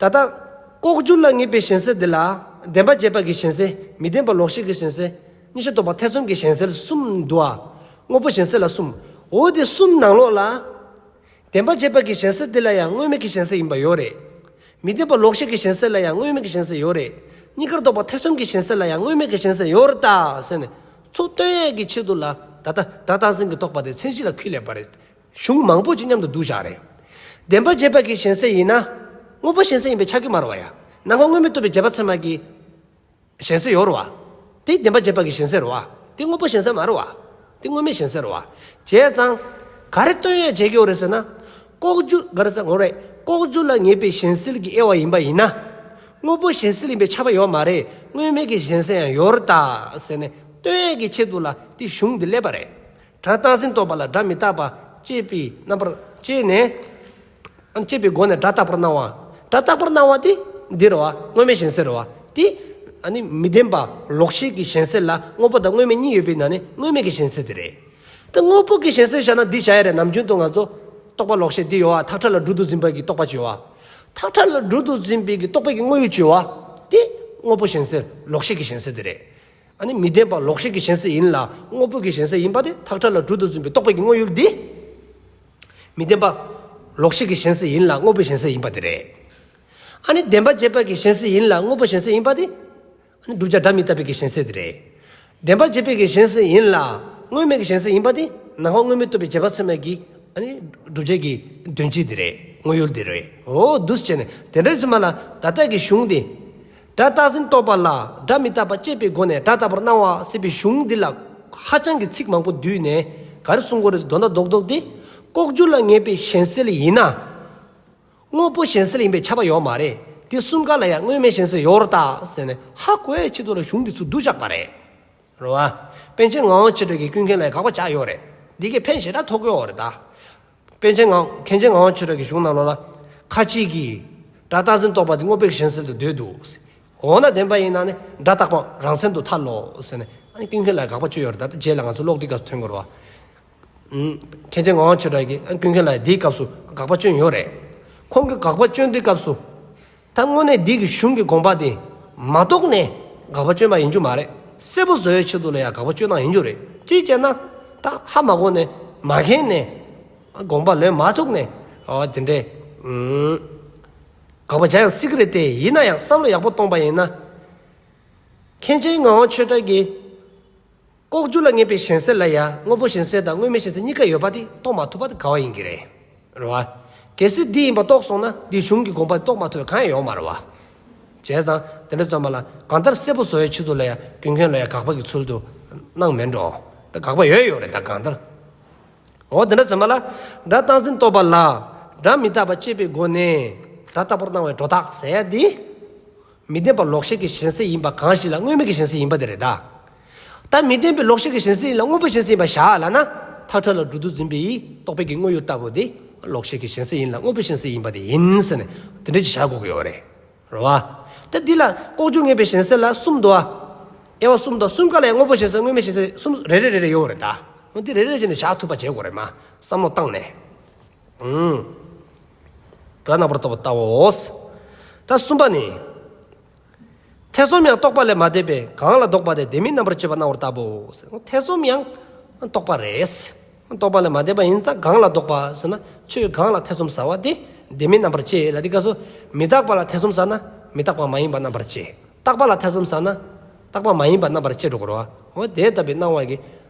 ད་ལྟ། ལྐོག་གྱུར་ལ་ངེས་པའི་ཞེན་སེལ་འདི་ལ། བདེན་པ་བརྗེད་པ་གྱི་ཞེན་སེལ། མི་བདེན་པ་ལོག་ཤེས་ཀྱི་ཞེན་སེལ། གཉིས་ཆ་རྟོག་པ་ཐེ་ཚོམ་གྱི་ཞེན་སེལ་གསུམ་འདུ་བ། དངོས་པོ་ཞེན་སེལ་ལ་གསུམ། འོ་དེ་གསུམ་ནང་ལོགས་ལ། བདེན་པ་བརྗེད་པ་གྱི་ཞེན་སེལ་འདི་ལ་ཡང་དངོས་མེད་ཀྱི་ཞེན་སེལ་ཡིན་པ་ཡོད་རེད། མི་བདེན་པ་ལོག་ཤེས་ཀྱི་ཞེན་སེལ་ལ་ཡང་དངོས་མེད་ཀྱི་ཞེན་སེལ་ཡོད་རེད། གཉིས་ཀར་རྟོག་པ་ཐེ་ཚོམ་གྱི་ཞེན་སེལ་ལ་ཡང་དངོས་མེད་ཀྱི་ཞེན་སེལ་ཡོད་རེད་ད། ཟེར་ནས། ཚུལ་སྟོན་ཡས་ཀྱི་ཆེད་དུ་ལ། ད་ལྟ། སྒྲ་དང་ཟིན་གྱི་རྟོག་པ་དེ་མཚན་གཞི་ལ་ཁུད་ལེགས་པ་རེད། གཞུང་མང་པོ་ཅིག་མཉམ་དུ་བསྡུ་བཞག་རེད། བདེན་པ་རྗེས་དཔག་གི་ཞེན་སེལ་ཡིན་ན། དངོས་པོ་ཞེན་སེལ་ཡིན་པའི་ཆ་གི་མར་བ་ཡ། ན་ང་དངོས་མེད་རྟོགས་པའི་རྗེས་དཔག་ཚད་མ་གི། ཞེན་སེལ་ཡོར་བ། དེ་བདེན་པ་རྗེས་དཔག་གི་ཞེན་སེལ་རོ། དེ་དངོས་པོ་ཞེན་སེལ་མར་བ། དེ་དངོས་མེད་ཞེན་སེལ་རོ། བྱས་ཙང། ག་རེ་སྟོན་ཡས་བྱས་ཀྱི་ཡོ་རེད་ཟེར་ན། ལྐོག་གྱུར་ག་རེ་ཟེར་ངོ་རེ། ལྐོག་གྱུར་ལ་ངེས་པའི་ཞེན་སེལ་གྱི་དབྱེ་བ་ཡིན་པ་ཡིན་ན། དངོས་པོ་ཞེན་སེལ་ཡིན་པའི་ཆ་བ་ཡོར་མ་རེད་དངོས་མེད་ཀྱི་ཞེན་སེལ་ཡང་ཡོར་ད། ཟེར་ནས་སྟོན་ཡས་ཀྱི་ཆེད་དུ་ལ་དེ་གཞུང་འདི་སླེབས་པ་རེད། སྒྲ་རྟག་འཛིན་རྟོག་པ་ལ་སྒྲ་མི་རྟག་པ་སྐྱེད་པའི་རྣམ་པར་སྐྱེས་ནས། སྐྱེད་པའི་སྒོ་ནས་སྒྲ་རྟག་པར་སྣང་བ། སྒྲ་རྟག་པར་སྣང་བ་དེ་འདིར་བ་དངོས་མེད་གཞན་སེལ་བ། དེ། མི་བདེན་པ་ལོག་ཤེས་ཀྱི་གཞན་སེལ་ལ་དངོས་པོ་དང་དངོས་མེད་གཉིས་ཡོད་པའི་ནང་ནས་དངོས་མེད་ཀྱི་གཞན་སེལ་དེ་རེད། དེ་དངོས་པོ་ཀྱི་གཞན་སེལ་བཞག་ན་འདི་བཞག་ཡ་རེད་ནམ་རྒྱུན་དུ་ང་ཚོ། རྟོག་པ་ལོག་ཤེས་འདི་ཡོད་བ་ཐག་ཁྲ་ལ་སྦྲུལ་དུ་འཛིན་པའི་གྱི་རྟོག་པ་གཅོད་བ། ཐག་ཁྲ་ལ་སྦྲུལ་དུ་འཛིན་པའི་གྱི་རྟོག་པའི་གྱི་དངོས་ཡོད་གཅོད་བ། དེ། དངོས་པོ་གཞན་སེལ་ལོག་ཤེས་ཀྱི་གཞན་སེལ་དེ་རེད། ཨ་ནི་མི་ལྡན་པ་ལོག་ཤེས་ཀྱི་ཞེན་ས་ཡིན་ལ་དངོས་པོ་གྱི་ཞེན་ས་ཡིན་པ་དེ་ཐག་ཁྲ་ལ་དྲུག་ཏུ་བརྫུན་པའི་རྟོག་པའི་དངོས་ཡུལ་འདི། མི་ལྡན་པ་ལོག་ཤེས་ཀྱི་ཞེན་ས་ཡིན་ལ་དངོས་པོའི་ཞེན་ས་ཡིན་པ་དེ་རེད། ཨ་ནི་བདེན་པ་བརྗེད་པའི་ཀྱི་ཞེན་ས་ཡིན་ལ་དངོས་པོའི་ཞེན་ས་ཡིན་པ་དེ། ཨ་ནི་བསྒྲུབ་བྱ་སྒྲ་མི་རྟག་པའི་ཀྱི་ཞེན་ས་དེ་རེད། བདེན་པ་བརྗེད་པའི་ཀྱི་ཞེན་ས་ཡིན་ལ་དངོས་མེད་ཀྱི་ཞེན་ས་ཡིན་པ་དེ་ན་ཧོ་དངོས་མེད་རྟོགས་པའི་བརྗེད་པ་ཚད་མའི་ཀྱི། ཨ་ནི་བསྒྲུབ་བྱ་ཀྱི་དོན་སྤྱི་དེ་རེད་དངོས་ཡུལ་དེ་རེད། འོ། འདུ་བྱེད་ནི་དེ་འདྲ་ཚད་མ་ལ་ད་ལྟ་ཀྱི་གཞུང་དེ། སྒྲ་བཏགས་ཟིན་རྟོག་པ་ལ་སྒྲ་མི་རྟག་པ་སྤྱད་པའི་སྒོ་ནས་སྒྲ་ལྟ་བུར་སྣང་བ་སྲིད་པའི་གཞུང་འདི་ལ་ཧ་ཅང་གི་ཚིག་མང་པོ་བསྡུས་ནས་གར་གསུངས་གོ་རེ་ཟོ་དོ་མདའ་རྡོག་རྡོག་སྟེ། ལྐོག་གྱུར་ལ་ངེས་པའི་གཞན་སེལ་ཡིན་ན། དངོས་པོ་གཞན་སེལ་ཡིན་པའི་ཁྱབ་པ་ཡོད་མ་རེད་དེ་གསུམ་ཀ་ལ་ཡང་དངོས་མེད་གཞན་སེལ་ཡོད་རོ་དཱ་ཟེར་ནས་ཧ་གོ་བའི་ཆེད་དུ་ལ་གཞུང་གི་ཚུལ་བསྡུ་བཞག་པ་རེད་རོ། པན་ཆེན་ངའོ་ཆེ་གྲོལ་གྱི་ཀུན་མཁྱེན་ལ་ཡང་དགག་པ་བྱ་ཡོད་རེད་དེ་གས་ཕན་ཞེ་དྲག་ཐོགས་ཀྱི་ཡོད་རེད་དཱ། པཎ་ཆེན་ངག། མཁན་ཆེན་ངག་དབང་ཆོས་གྲགས་ཀྱི་གཞུང་རྣམས་ལ། ཁ་ཅིག་གིས། སྒྲ་རྟག་འཛིན་རྟོག་པ་འདི་སྔོ་བེགས་གཞན་སེལ་དུ་འདོད་དོ། འོ་ན་བདེན་པ་ཡིན་ན་ནི་སྒྲ་རྟག་པའང་རང་མཚན་དུ་ཐལ་ལོ། ཟེར་ནས། ཨ་ཀུན་མཁྱེན་ལ་དགག་པ་བཅོས་ཡོད། ད་ལྟ་རྗེས་ལ་ང་ཚོ་ཀློག་འདིའི་སྐབས་སུ་ཐོན་དགོས་རོ། མཁན་ཆེན་ངག་དབང་ཆོས་གྲགས་ཀྱིས་ཨ་ཀུན་མཁྱེན་ལ་འདིའི་སྐབས་སུ་དགག་པ་བཅོས་ཡོད་རེད། ཁོང་གིས་དགག་པ་བཅོས་འདིའི་སྐབས་སུ། ད་དངོས་གནས་འདི་གི་གཞུང་གི་དགོངས་པ་དེ་མ་རྟོགས་ནས་དགག་པ་བཅོས་པ་ཡིན་རྒྱུ་མ་རེད། གསལ་པོ་བཟོ་བའི་ཆེད་དུ་ལ་ཡང་དགག་པ་བཅོས་སྟངས་ཡིན་རྒྱུ་རེད། ཅིའི་ལྕེ་ན། ད་ཧ་མ་གོ་ནས་མ་མཁྱེན་ནས། དགོངས་པ་ལོན་མ་ཐུག་ནས། དེ་འདྲའི། དགག་པ་བྱ་ཡང་སྲིད་གི་རེད་དེ་ཡིན་ན་ཡང་བསམ་བློ་ཡག་པོ་གཏོང་པ་ཡིན་ན། མཁན་ཆེན་ངག་དབང་ཆོས་གྲགས་ཀྱིས། ལྐོག་གྱུར་ལ་ངེས་པའི་གཞན་སེལ་ལ་ཡང་དངོས་པོ་གཞན་སེལ་དང་དངོས་མེད་གཞན་སེལ་གཉིས་ཀ་ཡོད་པ་དེ་རྟོགས་མ་ཐུབ་པ་དེ་ག་བ་ཡིན་གྱི་རེད། རེད་བ། གལ་སྲིད་འདི་ཡིན་པ་རྟོགས་སོང་ན་འདིའི་གཞུང་གི་དགོངས་པ་དེ་རྟོགས་མ་ཐུབ་པའི་གང་ཡང་ཡོང་མ་རེད་བ། བྱས་ཙང་དེ་འདྲ་བརྩམས་པ་ལ་གང་ལྟར་གསལ་པོ་བཟོ་བའི་ཕྱི་དོན་ལ་ཡང་རྒྱུ་མཁན་ལ་ཡང་དགག་པ་གི་ཚུལ་དུ་སྣང་མི་འགྲོ། ད་དགག་པ་ཡོད་ཡོད་རེད་ད་གང་ལྟར། འོ་དེ་འདྲ་བརྩམས་པ་ལ་སྒྲ་རྟག་འཛིན་རྟོགས་པ་ལ་སྒྲ་མི་རྟག་པ་དཔྱད་པའི་སྒོ་ནས་སྒྲ་རྟག་པར་སྣང་བའི་སྒྲོ་བཏགས་ཟེར་ཡ་འདི། མི་བདེན་པ་ལོག་ཤེས་ཀྱི་ཞེན་སེལ་ཡིན་པ་གང་ཞིག་ལ་དངོས་མེད་ཀྱི་ཞེན་སེལ་ཡིན་པ་དེ་རེད་ད། ད་མི་བདེན་པའི་ལོག་ཤེས་ཀྱི་ཞེན་སེལ་ཡིན་ལ་དངོས་པོའི་ཞེན་སེལ་ཡིན་པ་བཞག་ལ་ན། ཐག་ཁྲ་ལ་སྦྲུལ་རྡོ་འཛིན་པའི་རྟོག་པའི་གི་དངོས་ཡོད་ལྟ་བུ་དེ། ལོག་ཤེས་ཀྱི་ཞེན་སེལ་ཡིན་ལ་དངོས་པོའི་ཞེན་སེལ་ཡིན་པ་དེ་ཡིན་ཟེར་ནས་དེ་འདྲ་ཅིག་བཞག་དགོས་ཀྱི་ཡོད་རེད། རེད་བ། ད་འདི་ལ་ལྐོག་གྱུར་ངེས་པའི་ཞེན་སེལ་ལ་གསུམ་འདུ་ཨ། དབྱེ་བ་གསུམ་འདུ་ཨ་གསུམ་ག་ལ་ཡང་དངོས་པོའི་ཞེན་སེལ་དངོས་མེད་ཞེན་སེལ་གསུམ་རེ་རེ་རེ་རེ་ཡོད་རེད་ད། འོན་ཏེ་རེ་རེ་རེ་བྱས་ནས་བཞག་ཐུབ་པ་བྱེད་དགོས་རེད་མ་བསམ་བློ་བཏང་ནས། དགྲ་རྣམ་པར་རྟོག་པ་ལྟ་བའོ། ད་གསུམ་པ་ནི། ཐེ་ཚོམ་ཡང་རྟོག་པ་ལས་མ་འདས་པས་གང་ལ་ལྡོག་པ་དེ་བདེན་མིན་རྣམ་པར་འབྱེད་པ་སྣང་བར་ལྟ་བའོ། ཐེ་ཚོམ་ཡང་རྟོག་པ་རེད། རྟོག་པ་ལས་མ་འདས་པ་ཡིན་ཙང་གང་ལ་ལྡོག་པ་ཟེར་ན་ཆོས་གང་ལ་ཐེ་ཚོམ་ཟ་བ་དེ་བདེན་མིན་རྣམ་པར་འབྱེད་ལ་དེ་སྐད་སོ། མི་རྟག་པ་ལ་ཐེ་ཚོམ་ཟ་ན་མི་རྟག་པ་མ་ཡིན་པ་རྣམ་པར་འབྱེད། རྟག་པ་ལ་ཐེ་ཚོམ་ཟ་ན་རྟག་པ་མ་ཡིན་པ་རྣམ་པར་འབྱེད་དུ་འགོར་བའོ། དེ་ལྟ་བུའི་སྣང་བ་གི།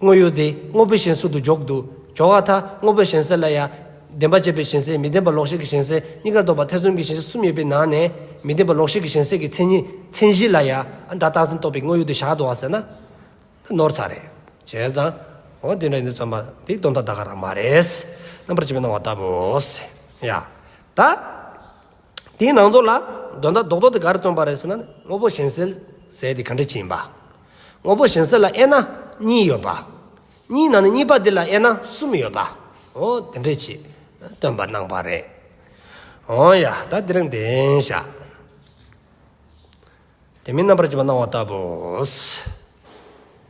དངོས་ཡོད་དེ་དངོས་པོའི་ཞེན་གསོག་ཏུ་འཇོག་དུ་སྦྱོར་བ་དང་དངོས་པོའི་ཞེན་སེལ་ལ་ཡང། བདེན་པ་ཅེས་པའི་ཞེན་སེལ་མི་བདེན་པ་ལོག་ཤེས་ཀྱི་ཞེན་སེལ་གཉིས་ཀར་གཏོགས་པ་ཐེ་ཚོམ་གྱི་ཞེན་ཤེས་གསུམ་ཡོད་པའི་ནང་ནས། མི་བདེན་པ་ལོག་ཤེས་ཀྱི་ཞེན་སེལ་གྱི་མཚན་ཉིད་མཚན་གཞི་ལ་ཡང། སྒྲ་རྟག་འཛིན་རྟོག་པའི་དངོས་ཡོད་དུ་བཞག་དུ་བ་ཟེར་ན། འདི་ནོར་ཚ་རེད། བྱས་ཙང། འོ་དེ་འདྲ་ཡིན་དུས་ཙམ་པ་འདི་སྟོང་མཐའ་དག་ག་རང་མ་རེད། རྣམ་པར་འབྱེད་པའི་སྣང་བ་ལྟ་བུ། ཡ། ད། དེའི་ནང་དོན་ལ་དོན་དག་རྡོག་རྡོག་དེ་ག་རེ་སྟོན་པ་རེད་ཟེར་ན་ནི་དངོས་པོ་གཞན་སེལ་ཟེར་དེ་ག་འདྲ་ཅི་ཡིན་པ། དངོས་པོ་གཞན་སེལ་ལ་དབྱེ་ན་གཉིས་ཡོད་པ། གཉིས་ནང་ནས་གཉིས་པ་དེ་ལ་དབྱེ་ན་གསུམ་ཡོད་པ། འོ་དེ་འདྲས་ཅི་སྟོན་པ་སྣང་བ་རེད། འོ་ཡ་ད་འདི་རང་བདེན་བྱ། དེ་མིན་རྣམ་པར་བཅད་པ་སྣང་བ་ལྟ་བུ།